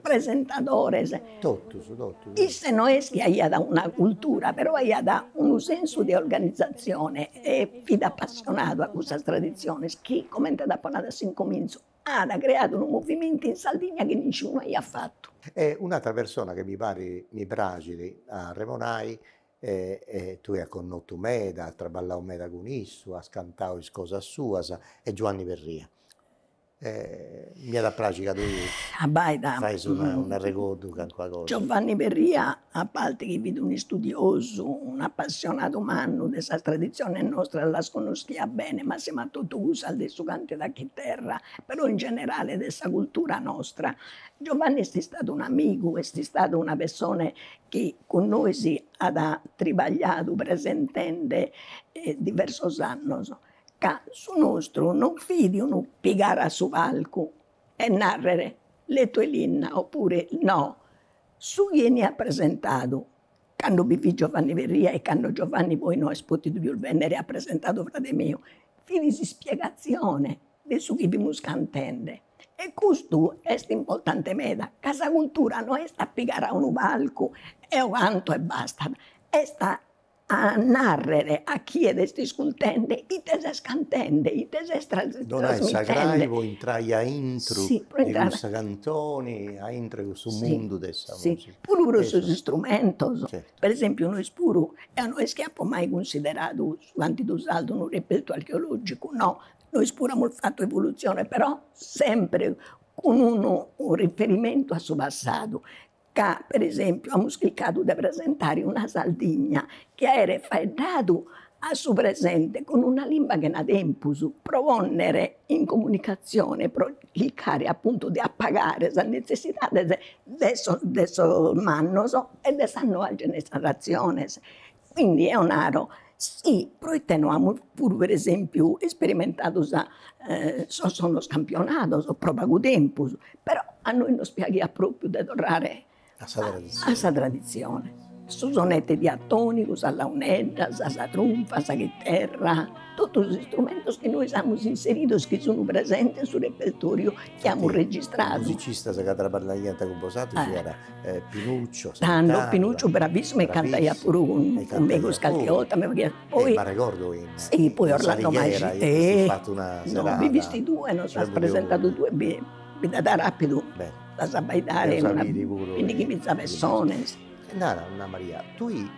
presentadores, totus totus, isse no est chi aiat una cultura, però aiat unu sensu de organizatzione e fit apassionadu a cussas traditziones chi, comente t'apo nadu a s'incomintzu, at creadu unu movimentu in Sardigna chi nisciunu aiat fatu. E un'atera persona chi mi parit, mi praxit a arremonai e tue as connotu meda, as traballau meda cun issu, as cantau is cosas suas est Giuanni Perria e mi at a praxi ca tui fais un'arregordu de calincuna cosa. Giovanni Perria a parti chi fit un'istudiosu, un'apassionadu mannu de sas traditziones nostras las connoschiat bene massima totu cussas de su cantidu a chiterra, però in generale de sa cultura nostra. Giovanni est istadu un'amigu, est istadu una pessone chi cun nois at tribagliadu presentende diversos annos, ca su nostru non fit unu pigare a su palcu e narrere Lettu 'e Linna oppure no, su chi 'eniat presentadu, cando bi fit Giovanni Perria e cando Giovanni poi no est potidu pius bennere at presentadu frade meu, fit s'ispiegazione de su chi fimus cantende e custu est importante meda, ca sa cultura no est a pigare a unu palcu eo canto e bastat, est a narrer a chie t'est iscultende ite ses cantende, ite ses trasmitende. Donai sa crai po intrai aintru de custa cantoni, aintru 'e custu mundu de sa musica. Puru pro sos istrumentos, pro esempiu nois puru, eo no est chi apo mai cunsideradu su cantidu sardu unu repertu archeologicu, no, nois puru amus fatu evolutzione però sempre cun unu riferimentu a su passadu, ca per esempiu amus chircadu de presentare una Sardigna chi aeret faeddadu a su presente cun una limba chena tempus pro ponnere in comunicatzione, pro chircare appuntu de apagare sas nezzessidades de sos mannos e de sas noas generaziones Quindi eo naro, sì, proite no, amus puru per esempiu isperimentadu sos sonos campionados pro pagu tempus, però a nois nos piaghiat propriu de torrare a sa tradizione, su sonette diatonicu, sas launeddas, sa trunfa, sa chiterra, totus istrumentos chi nois amus inseridos chi sun presentes in su repertoriu chi amus registradu. Is musicistas chi traballaiant cun bosatrus fiant Tando Pinucciu bravissimu e cantaiat puru cun cun megus calchi 'olta mi pariat poi sì poi Orlando Mascia e no bi fisti tue nos as presentadu tue bi nd'at aer apidu lassa abbaidare bindighimiza pessones. Nara Anna Maria, tui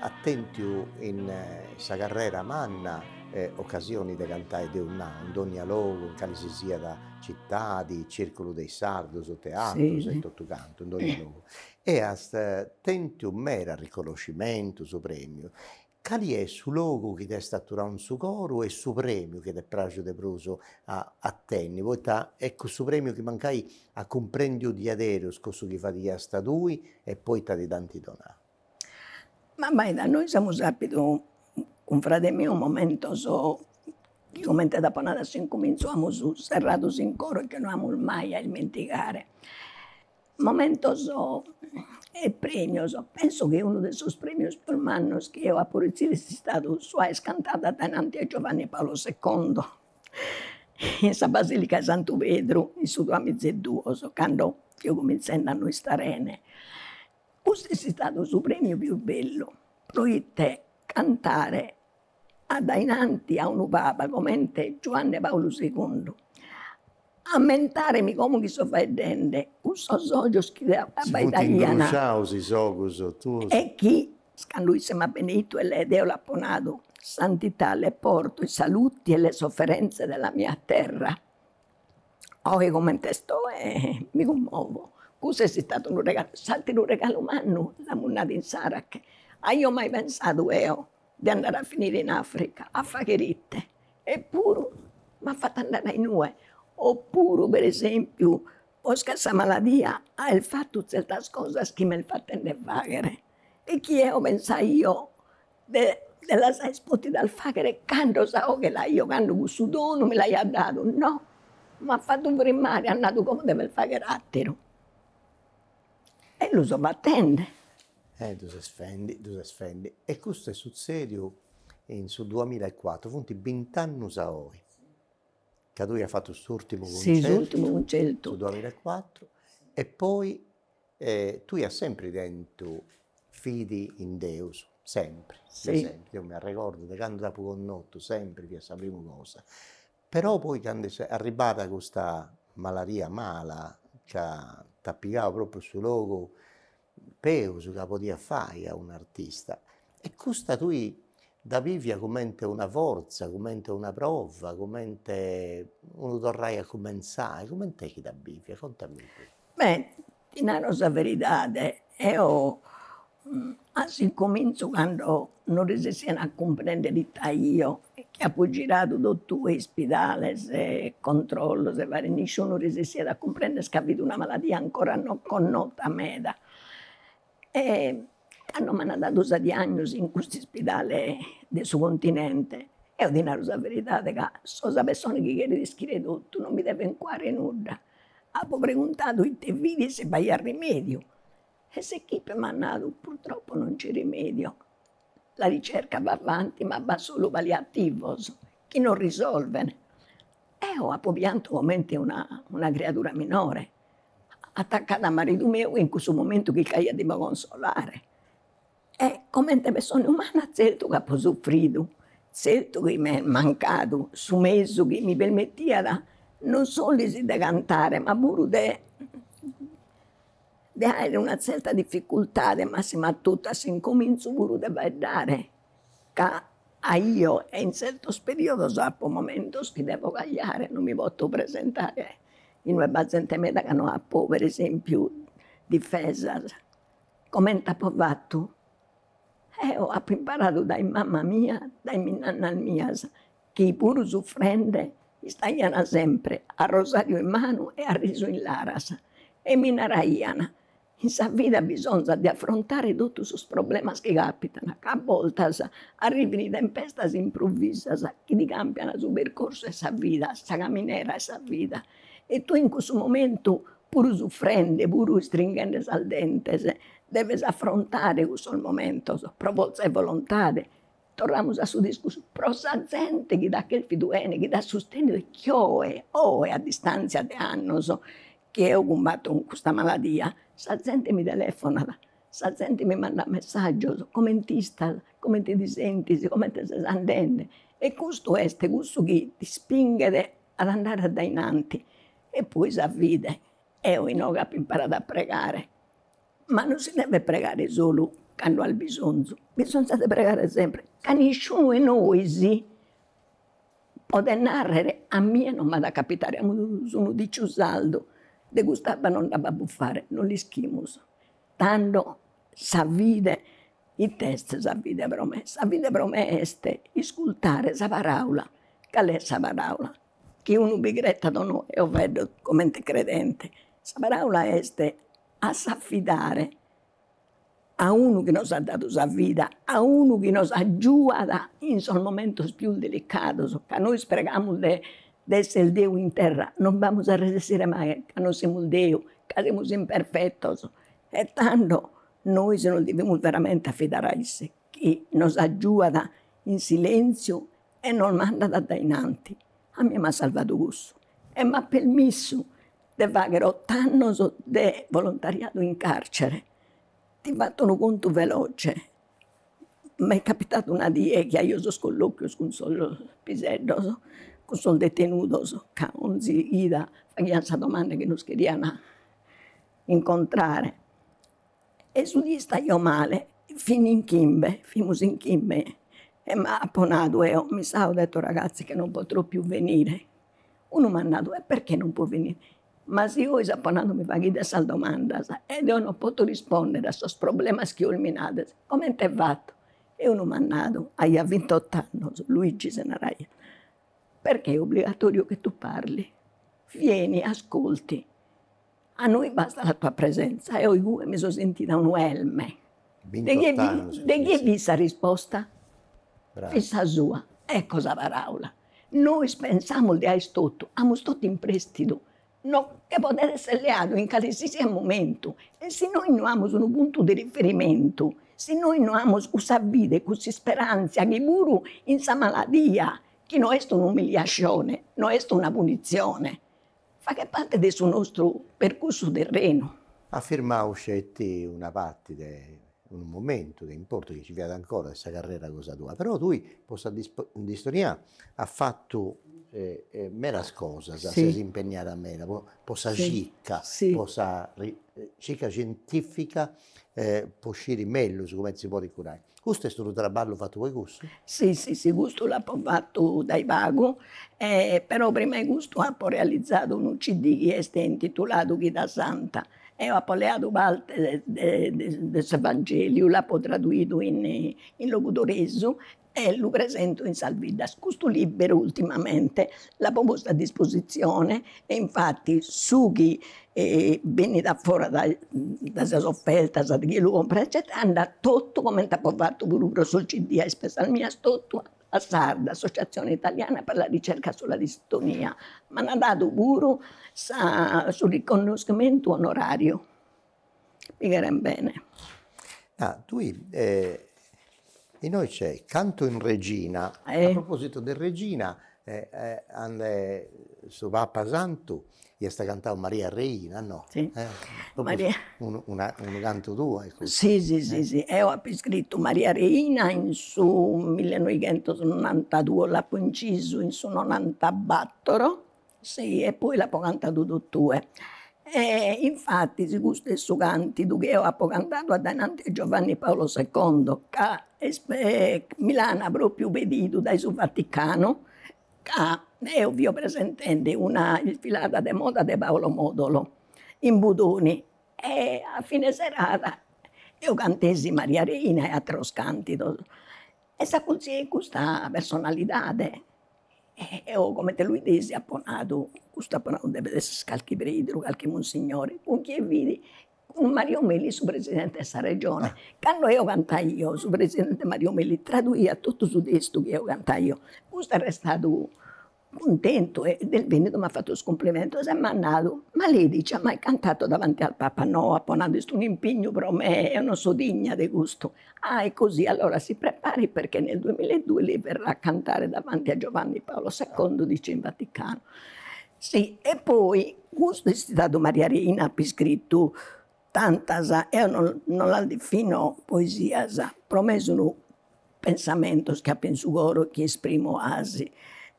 as tentu in sa carrera manna occasioni de cantai deu nau in dogna logu in cali si siat Citadis, circulu de is sardus, teatrus e totu cantu, in dogni logu. E as tentiu meras riconoscimentus, premius. Cali est su logu chi t'est aturau in su coru e su premiu chi t'est pràxiu de prus a tenni, poita est cussu premiu chi mancai at cumprendiu diaderus cussu chi fadiasta tui e poita ti dd'ant donau? Ma abbaida, nois amus apidu cun frade miu momentos chi comente apo nadu a s'incumintzu amus serradu in coro e chi no amus mai a ismentigare. Momentos e premios, penso chi unu de sos premios pius mannos chi eo apu retzidu est istadu sa cantada addainanti a Giovanni Paolo secondo in sa basilica 'e Santu Pedru in su duamiza e duos cando fio cumintzendi a no istare 'ene Custu est istadu su prèmiu pius bellu, proite cantare addainanti a unu papa comente Giuanne Paulu segundu, ammentare·mi como chi so faeddende cun sos ojos chi t'abbaidaian, e chi cando isse m'at beneitu e eo l'apo nadu, Santità, le porto i saluti e le sofferenze della mia terra, oe coment'est oe mi cummovo, cuss' est istadu unu regalu, s'ateru regalu mannu, l'amus nadu insara chi aio mai pensadu eo de andare a finire in Africa a faghere ite, eppuru m'at fattu andare a inue, oppuru per esempiu posca sa maladia at fattu zertas cosas chi m'est fattende faghere E chi eo pensaio de las aer potidas fagher cando sa 'oghe l'aio cando cussu donu mi l'aiat dadu, no, m'at fatu frimmare, at nadu como deves fagher atteru. E lu so fattende. E ddu ses fendi, ddu ses fendi. E custu est suzzediu in su duamilla e cuatru, funt bint'annus a oi ca tui as fattu s'urtimu cuncertu. Sì, s'urtimu cuncertu. Su duamilla e cuatru e poi E tui as sempri tentu fidi in Deus, sempri, sempri, deu m'arregordu de candu t'apu connotu sempri fiat sa primu cosa, però poi candu est arribbada custa maladia mala ca t'at pigau propriu su logu peus ca podiat fai a un'artista e custa tui dda bivis comente una forza, comente una prova, comente unu torrai a cumenzai, comente est chi dda bivis, contamì. Beh ti naro sa veridade, eo a s'incominzu cando non resessiat a cumprendere it'aio, chi apo giradu totu is ispidales e controllos e varios nisciunu resessiat a cumprender ca fit una maladia ancora non connota meda E cando m'ant dadu sa diagnosi in custu ispidale de su continente, eo ti naro sa veridade ca so sa pessona chi cheret ischire totu, non mi devet cuare nudda, apo preguntadu ite fit e si b'aiat rimèdiu e s'equipe m'at nadu, purtroppo non c'è rimedio, La ricerca va avanti ma b'at solu paliativos chi non risolvent. Eo apo piantu comente una criadura minore, atacada a maridu meu in cussu momentu chi c'aiat de consolare. E comente pessona umana tzertu chi apo sufridu, tzertu chi m'est mancadu su mesu chi mi permitiat non solis de cantare ma puru de de aere una tzerta difficultade, massima a totu a s'incomintzu puru de faeddare, ca aio e in tzertos periodos apo momentos chi devo cagliare, non mi poto presentare in ue b'at zente meda ca no apo per esempiu difesas, comente apo fatu, eo apo imparadu dae mama mia, dae minnannas mias chi puru sufrende istaian sempre a rosariu in manu e a risu in laras e mi naraian, in sa vida bisonzat de afrontare totus sos problemas chi capitan, ca a bortas arrivin tempestas improvisas chi ti cambian su percorsu 'e sa vida, sa caminera 'e sa vida e tue in cussu momentu puru sufrende, puru istringhende sas dentes deves afrontare cussos momentos pro forza 'e volontade Torramus a su discursu, pro sa zente chi t'at cherfidu 'ene, chi t'at sustènnidu e chi oe, oe a distàntzia de annos chi eo cumbato cun custa maladia, sa zente mi telefonat, sa zente mi mandat messàgios, coment'istas, comente ti sentis, comente ses andende, e custu est cussu chi t'ispinghet ad andare addainanti e poi sa fide, eo inoghe apo imparadu a pregare Ma no si devet pregare solu cando as bisonzu, bisonzat de pregare sempre, ca nisciunu 'e nois podet narrer, a mie non m'at a capitare, amus unu diciu sardu, de cust'abba non nd'apo a bufare, non l'ischimus, tando sa fide, it'est sa fide pro me, sa fide pro me est iscultare sa paraula, cale est sa paraula, chi unu bi cretat o no, eo faeddo comente credente, sa paraula est a s'affidare a unu chi nos at dadu sa vida, a unu chi nos agiuat in sos momentos pius delicados, ca nois pregamus de esser Deu in terra, non b'amus a resistire mai, ca non semus Deu, ca semus imperfetos, e tando nois nos devimus veramente affidare a isse, chi nos agiuat in silentziu e nos mandat a dae in anti, a mie m'at salvadu cussu e m'at permissu de fagher ott'annos de volontariadu in carcere, ti fatto unu contu veloce, m'est capitadu una die chi aio sos collochios cun sos piseddos, cun sos detenudos, ca 'onzi 'ida faghian sa domanda chi nos cherian incontrare, e su die istaio male, fin in chimbe, fimus in chimbe, e m'apo nadu eo, mi sa, ho detto ragazzi che non potrò più venire, Unu m'at nadu, e perchè non può venire? Ma si ois apo nadu mi faghides sas domandas e deo non poto rispòndere a sos problemas chi ois mi nades, comente fatto? E unu m'at nadu, aiat vintott'annos, Luigi si naraiat, perchè è obbligatorio che tu parli, vieni, ascolti, A noi basta la tua presenza e eo igue mi so sentida unu elme. De chie fit sa risposta? Fit sa sua. Ecco sa paraula. Nois pensamus de aer totu, amus totu in prestidu, nos che podet esser leadu in calesisiat momentu e si nois no amus unu puntu de riferimentu, si nois no amus cussa fide e cussa isperantzia chi puru in sa maladia, chi no est un'umiliascione, no est una punitzione, Faghet parte de su nostru percursu terrenu. At firmau sceti una parte de unu momentu de importu chi nci fiat ancora de sa carrera cosa tua, però tui po sa distonia as fatu medas cosas, ses impegnada meda po sa circa, po sa circa scientifica po sciri mellus comente si podit curai, custu est unu traballu fattu po cussu? Si si si custu l'apo fattu dae pagu e però prima 'e custu apo realizadu unu CD chi est intituladu Chida Santa, eo apo leadu parte de de s'Evangeliu, l'apo traduidu in logudoresu e lu presento in sas biddas. Custu libberu ultimamente l'apo postu a dispositzione e infati su chi benit a fora dae dae sas offertas de chie lu comporat eccetera andat totu comente apo fatu puru pro sos CD a ispesas mias totu a s'ARD, Associazione Italiana per la Ricerca sulla Distonia, m'an dadu puru sa su riconoscimentu onorario mi cheren bene. Ah tui inoi c'è Canto in Re, a proposito de regina e ananti de su Papa Santu iast cantau Maria Reina no? Si Maria unu una unu cantu tuo est custu. Si si si si eo apo iscrittu Maria Reina in su millenoighentos norantaduos, l'apo incisu in su norantabattoro Si e poi l'apo cantadu totue. E infatis custu est su cantidu chi eo apo cantadu addainanti 'e Giovanni Paolo secondo ca est mi l'ana propriu pedidu dae su Vaticanu ca eo fio presentende una isfilada de moda de Paolo Modolo in Budoni e a fine serada eo cantesi Maria Reina e ateros cantidos e s'acurtziat custa personalidade e eo comente lu 'idesi apo nadu, custu apo nadu devet esse calchi preideru, calchi monsignore, cun chie fit, cun Mario Melis su presidente 'e sa regione, cando eo cantaio su presidente Mario Melis traduiat totu su testu chi eo cantaio, custu est restadu cuntentu e est bennidu e m'at fatu is cumplimentus e m'at nau, ma lei dice ha mai cantato davanti al Papa, no apo nadu est un'impignu pro me, eo non so digna de custu, Ah e così allora si prepari perché nel duemila e due lei verrà a cantare davanti a Giovanni Paolo secondo dice in Vaticano si e poi custu est istadu Maria Reina ap'iscrittu tantas eo no no las defino poesias pro me sun pensamentos chi ap'in su coro chi esprimo 'asi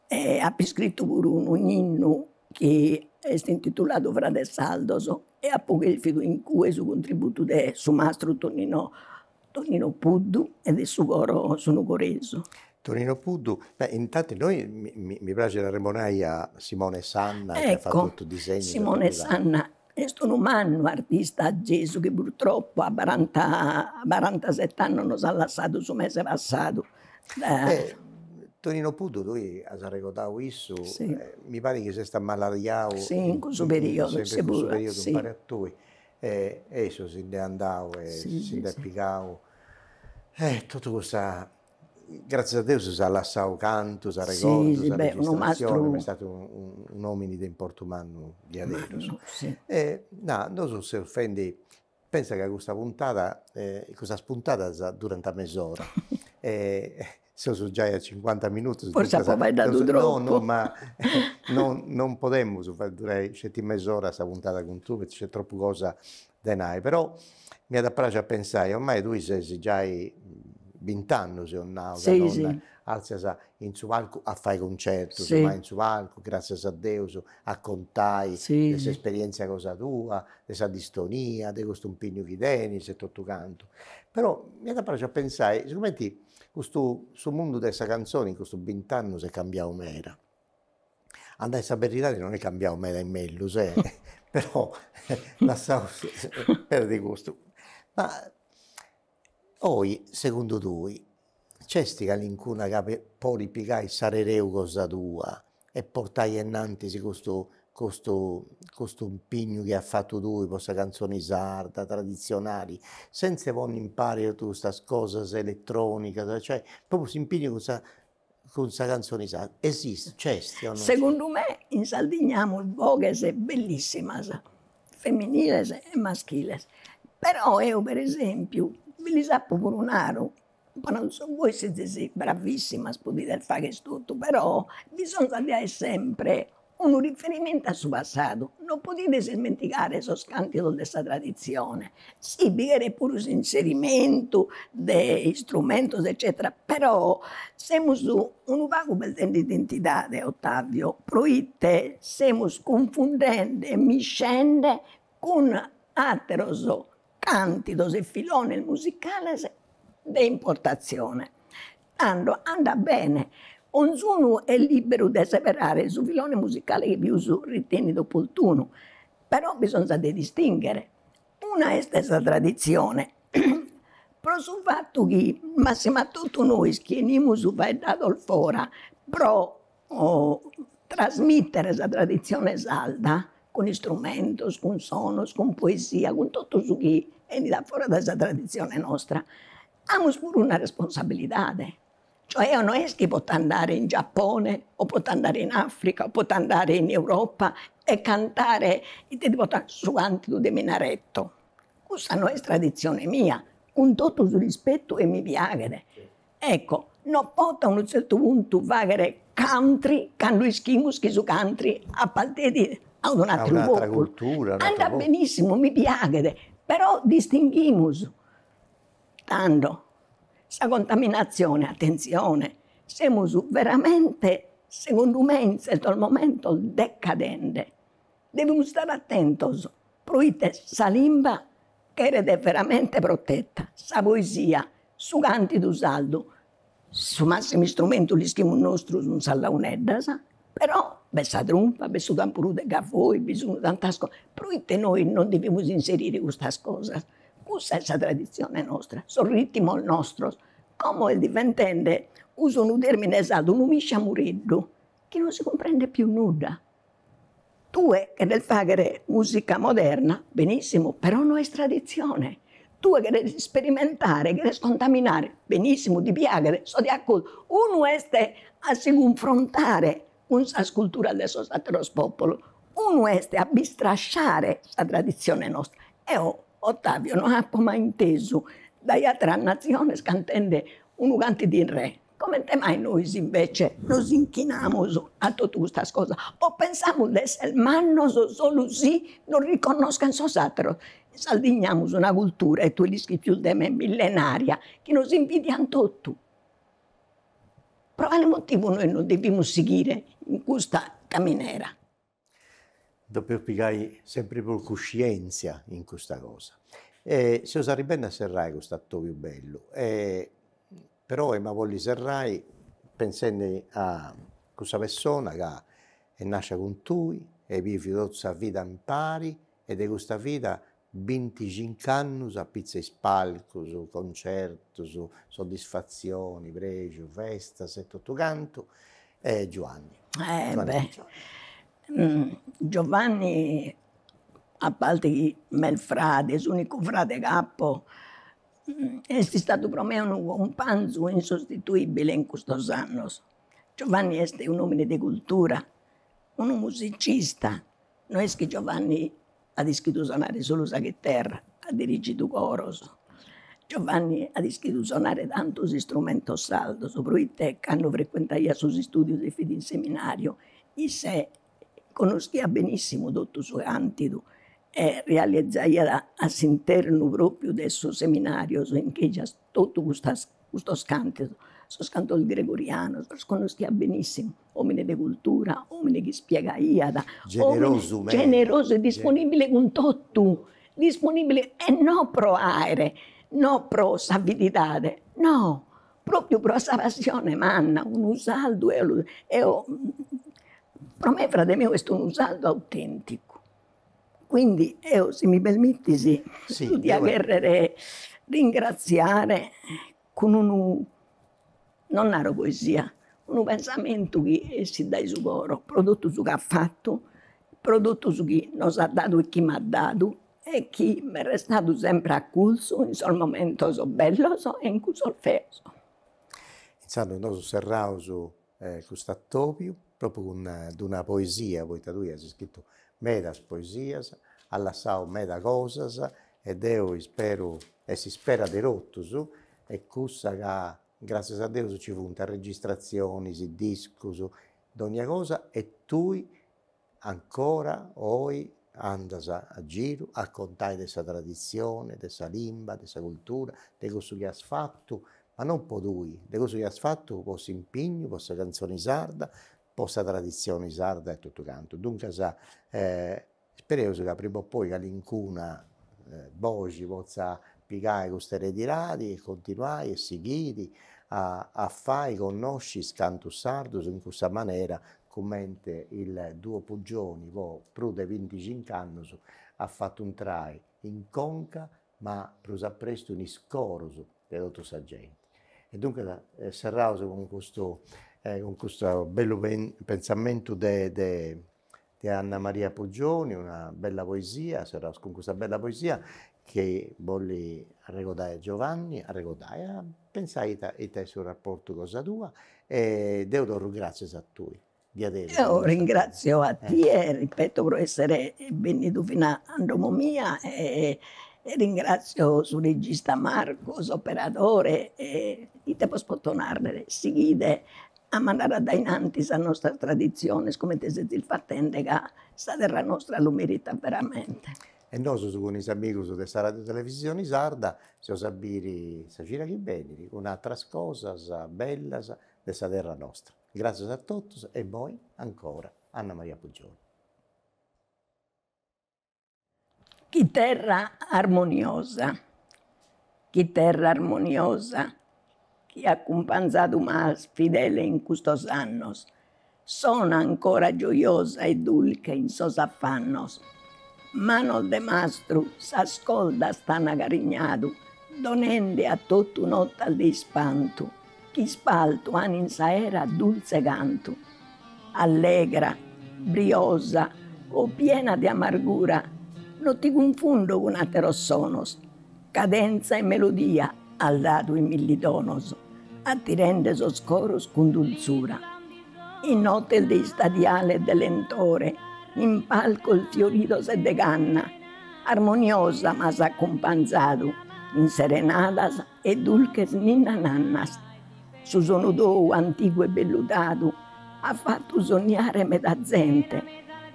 e ap'iscrittu puru unu innu chi est intituladu Frades sardos e apo cherfidu in cue su contributu de su mastru Tonino Tonino Puddu e de su coro Su Nugoresu. Tonino Puddu, beh intanti noi mi mi praxit a arremonai a Simone Sanna chi at fatu totu is disegnus e totu sa Est unu mannu artista Gesu chi purtroppu a baranta barantaset'annos nos at lassadu su mese passadu. Tonino Puddu tui as arregodau issu, mi parit chi s'est amaladiau in cussu periodu umpare a tui e e issu si nd'est andau e si nd'est pigau e totu custa Gràtzias a Deus si at lassadu cantus, arregordus, arregistratzionis, ma est statu un'òmini de importu mannu diaderus. E na, nosu seus fendi, pensa ca custa puntada, custas puntadas durant mes'ora e seus giai a cincuanta minutus, duncas, no no ma non podemus fai durai sceti mes'ora sa puntada cun tue, poita nc'est tropu cosa de nai, però mi at a praxi a pensai, ormai tui ses giai bint'annus eus nau ca non arzias in su palcu a fai concertus, ma in su palcu, gratzias a Deus, a contai de s'esperientzia cosa tua, de sa distonia, de custu impignu chi tenis e totu cantu. Però mi at a praxi a pensai, sigumenti custu, su mundu de sa canzoni in custus bint'annus est cambiau meda, A nai sa beridadi non est cambiau meda in mellus e però lassaus perdi custu, ma oi segundu tui c'est calincuna chi podit pigai s'ereu cosa tua e portai enantis custu custu custu impignu chi as fatu tui po sa canzoni sarda tradizionali, senza ponni impari totu custas cosas elettronicas, cioè propriu s'impignu cun sa Cun sa canzone sarda, esistit, nc'est o no? Segundu me in Sardigna amus boghes bellissimas, feminiles e maschiles, però eo per esempiu bi lis apo puru naru, bois sezis bravissimas podides fagher totu, però bisonzat de aer sempre Unu riferimentu a su passadu non podides ismentigare sos càntidos de sa traditzione, si bi cheret puru s'inserimentu de istrumentos eccètera, però semus unu pagu perdende identidade, Ottavio, proite semus cunfundende e miscende cun àteros càntidos e filones musicales de importatzione, tando andat bene, onzunu est lìberu de seberare su filone musicale chi pius ritenit oportunu, però bisonzat de distinghere, una est sa traditzione, pro su fatu chi massima totu nois chi 'enimus faeddados fora pro trasmìtere sa traditzione sarda cun istrumentos, cun sonos, cun poesia, cun totu su chi enit a fora de sa traditzione nostra, amus puru una responsabilidade, cioè eo no est chi pota andare in Giapone o pota andare in Africa o pota andare in Europa e cantare, ite ti poto, su cantidu de minareto, cussa no est traditzione mia, cun totu su rispettu e mi piaghet Ecco, no poto a unu tzertu puntu fagher country cando ischimus chi su country apartenit a unu atteru populu. Andat benissimu, mi piaghet, però distinghimus tando sa contaminatzione, atentzione, semus veramente segundu me in tzertos momentos decadende. Devimus istare atentos proite sa limba cheret veramente proteta, sa poesia, su cantidu sardu, su massimu istrumentu l'ischimus nostru sun sas launeddas, però b'est sa trumpa, b'est su tamburu de gavoi, bi sun tantas cosas, proite nois non devimus inserire custas cosas, cussa est sa tradizione nostra, sos ritimos nostros, como est diventende, uso unu termine sardu, unu misciamureddu chi non si cumprendet pius nudda Tue cheres fàghere mùsica moderna, benìssimu, però no est traditzione. Tue cheres isperimentare, cheres contaminare, benìssimu, ti piaghet, so de acordu, unu est a si cunfrontare cun sas culturas de sos àteros pòpulos, unu est a bistrasciare sa traditzione nostra. Eo Ottavio no apo mai intesu dae àteras natziones cantende unu canti di re Comente mai nois invece nos inchinamus a totu custas cosas? O pensamus de esser mannos solu si nos riconnoschent sos atteros? In Sardigna amus una cultura, e tue l'ischis pius de me, millenaria, chi nos invidiant totu. Pro cale motivu nois non devimus sighire in custa caminera? Depeus pigai sempri prus cuscientzia in custa cosa e seus arribendi a serrai cust'atobiu bellu e però ema bolli serrai pensendi a cussa pessona ca est nàscia cun tui e bivi totu sa vida impari e de custa vida Binticinch'annus a pitzu 'e is palcus, concertus, soddisfatzioni, prexu, festas e totu cantu e Giovanni. Giovanni a parti chi m'est fradi, s'unicu fradi ch'apu, est istadu pro mei unu cumpanzu insostituibili in custus annus. Giovanni est un'omini de cultura, unu musicista, no est chi Giovanni at ischidu sonare solu sa chiterra, at dirigidu coros. Giovanni at ischidu sonare tantos istrumentos sardos proite cando frecuentaiat sos istudios e fit in seminariu isse connoschiat benissimu totu su cantidu e realizaiat a s'internu propriu de sos seminarios in chi Totu custos cantos, sos cantos gregorianos, los connoschiat benissimu, omine de cultura, omine chi ispiegaiat, generosu e disponibile cun totu, disponibile e non pro aere, non pro s'avididade, no, propriu pro sa passione manna, unu sardu pro me frade meu est unu sardu autenticu Quindi eo si mi permittis dia cherrer ringraziare cun unu, non naro poesia, unu pensamentu chi essit dae su coro pro totu su chi at fatu, pro totu su chi nos at dadu e chi m'at dadu e chi m'est restadu sempre acurzu in sos momentos bellos e in cussos feos. Intzandus nosu serraus custu atobiu, propriu cun d-una poesia, poita tui as iscritu medas poesias, as lassau meda cosas e deu isperu e s'ispera de totus est cussa ca gràssias a Deus nci funt registratzionis, discus, dònnia cosa e tui Ancora oi andas a giru a contai de sa traditzioni, de sa limba, de sa cultura, de cussu chi as fatu, ma non po tui, de cussu chi as fatu po s'impignu, po sa cantzoni sarda, po sa traditzioni sarda e totu cantu. Duncas ispereus ca prima o poi calincuna boxi potza pigai custa eredidadi e continuai e sighiri a fai connosci is cantus sardus in cussa manera comente il duo Puggioni po prus de binticincu annus at fatu intrai in conca ma prus a prestu in is coros de totu sa genti. E duncas serraus cun custu cun custu bellu pensamentu de de de Anna Maria Puggioni, una bella poesia, serraus cun custa bella poesia chi bolli arregodai a Giovanni, arregodai a Pensai ita est su raportu cosa tua e deu torru gràtzias a tui. Diaderus. Deu ringrazio a tie, ripeto, pro essere bennidu fina in domo mia e ringrazio su regista Marco, s'operadore e ite bos poto narrere, sighide a mandare a dae in anti sas nostras traditziones comente sezis fatende ca sa terra nostra lu meritat veramente. E nosus cun is amigus de sa Radiotelevisioni Sarda seus a biri sa cida chi benit cun atras cosas bellas de sa terra nostra. Gràtzias a totus e immoi ancora Anna Maria Puggioni. Chiterra armoniosa, chiterra armoniosa. chi acumpanzadu m'as fidele in custos annos, sona ancora gioiosa e dulche in sos affannos, manos de mastru sas coldas t'an acarignadu, donende a totu notas de ispantu, ch'ispaltu an in s'aera dultze cantu. Allegra, briosa o piena de amargura, no ti cunfundo cun atteros sonos, Cadentza e melodia as dadu in milli tonos, attirende sos coros cun dulzura. In notes de istadiale e de lentore, in palcos fioridos e de canna armoniosa m'as acumpanzadu in serenadas e dulches ninna-nannas Su sonu tou antigu e velludadu at fatu sonniare meda zente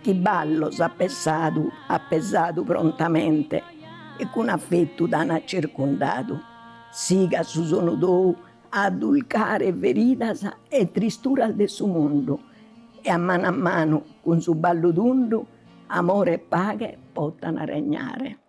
chi ballos at pesadu at pesadu prontamente e cun afetu t'an circundadu. Sigat su sonu tou a addulcare feridas e tristuras de su mundu e a manu a manu cun su ballu tundu amore e paghe potan regnare.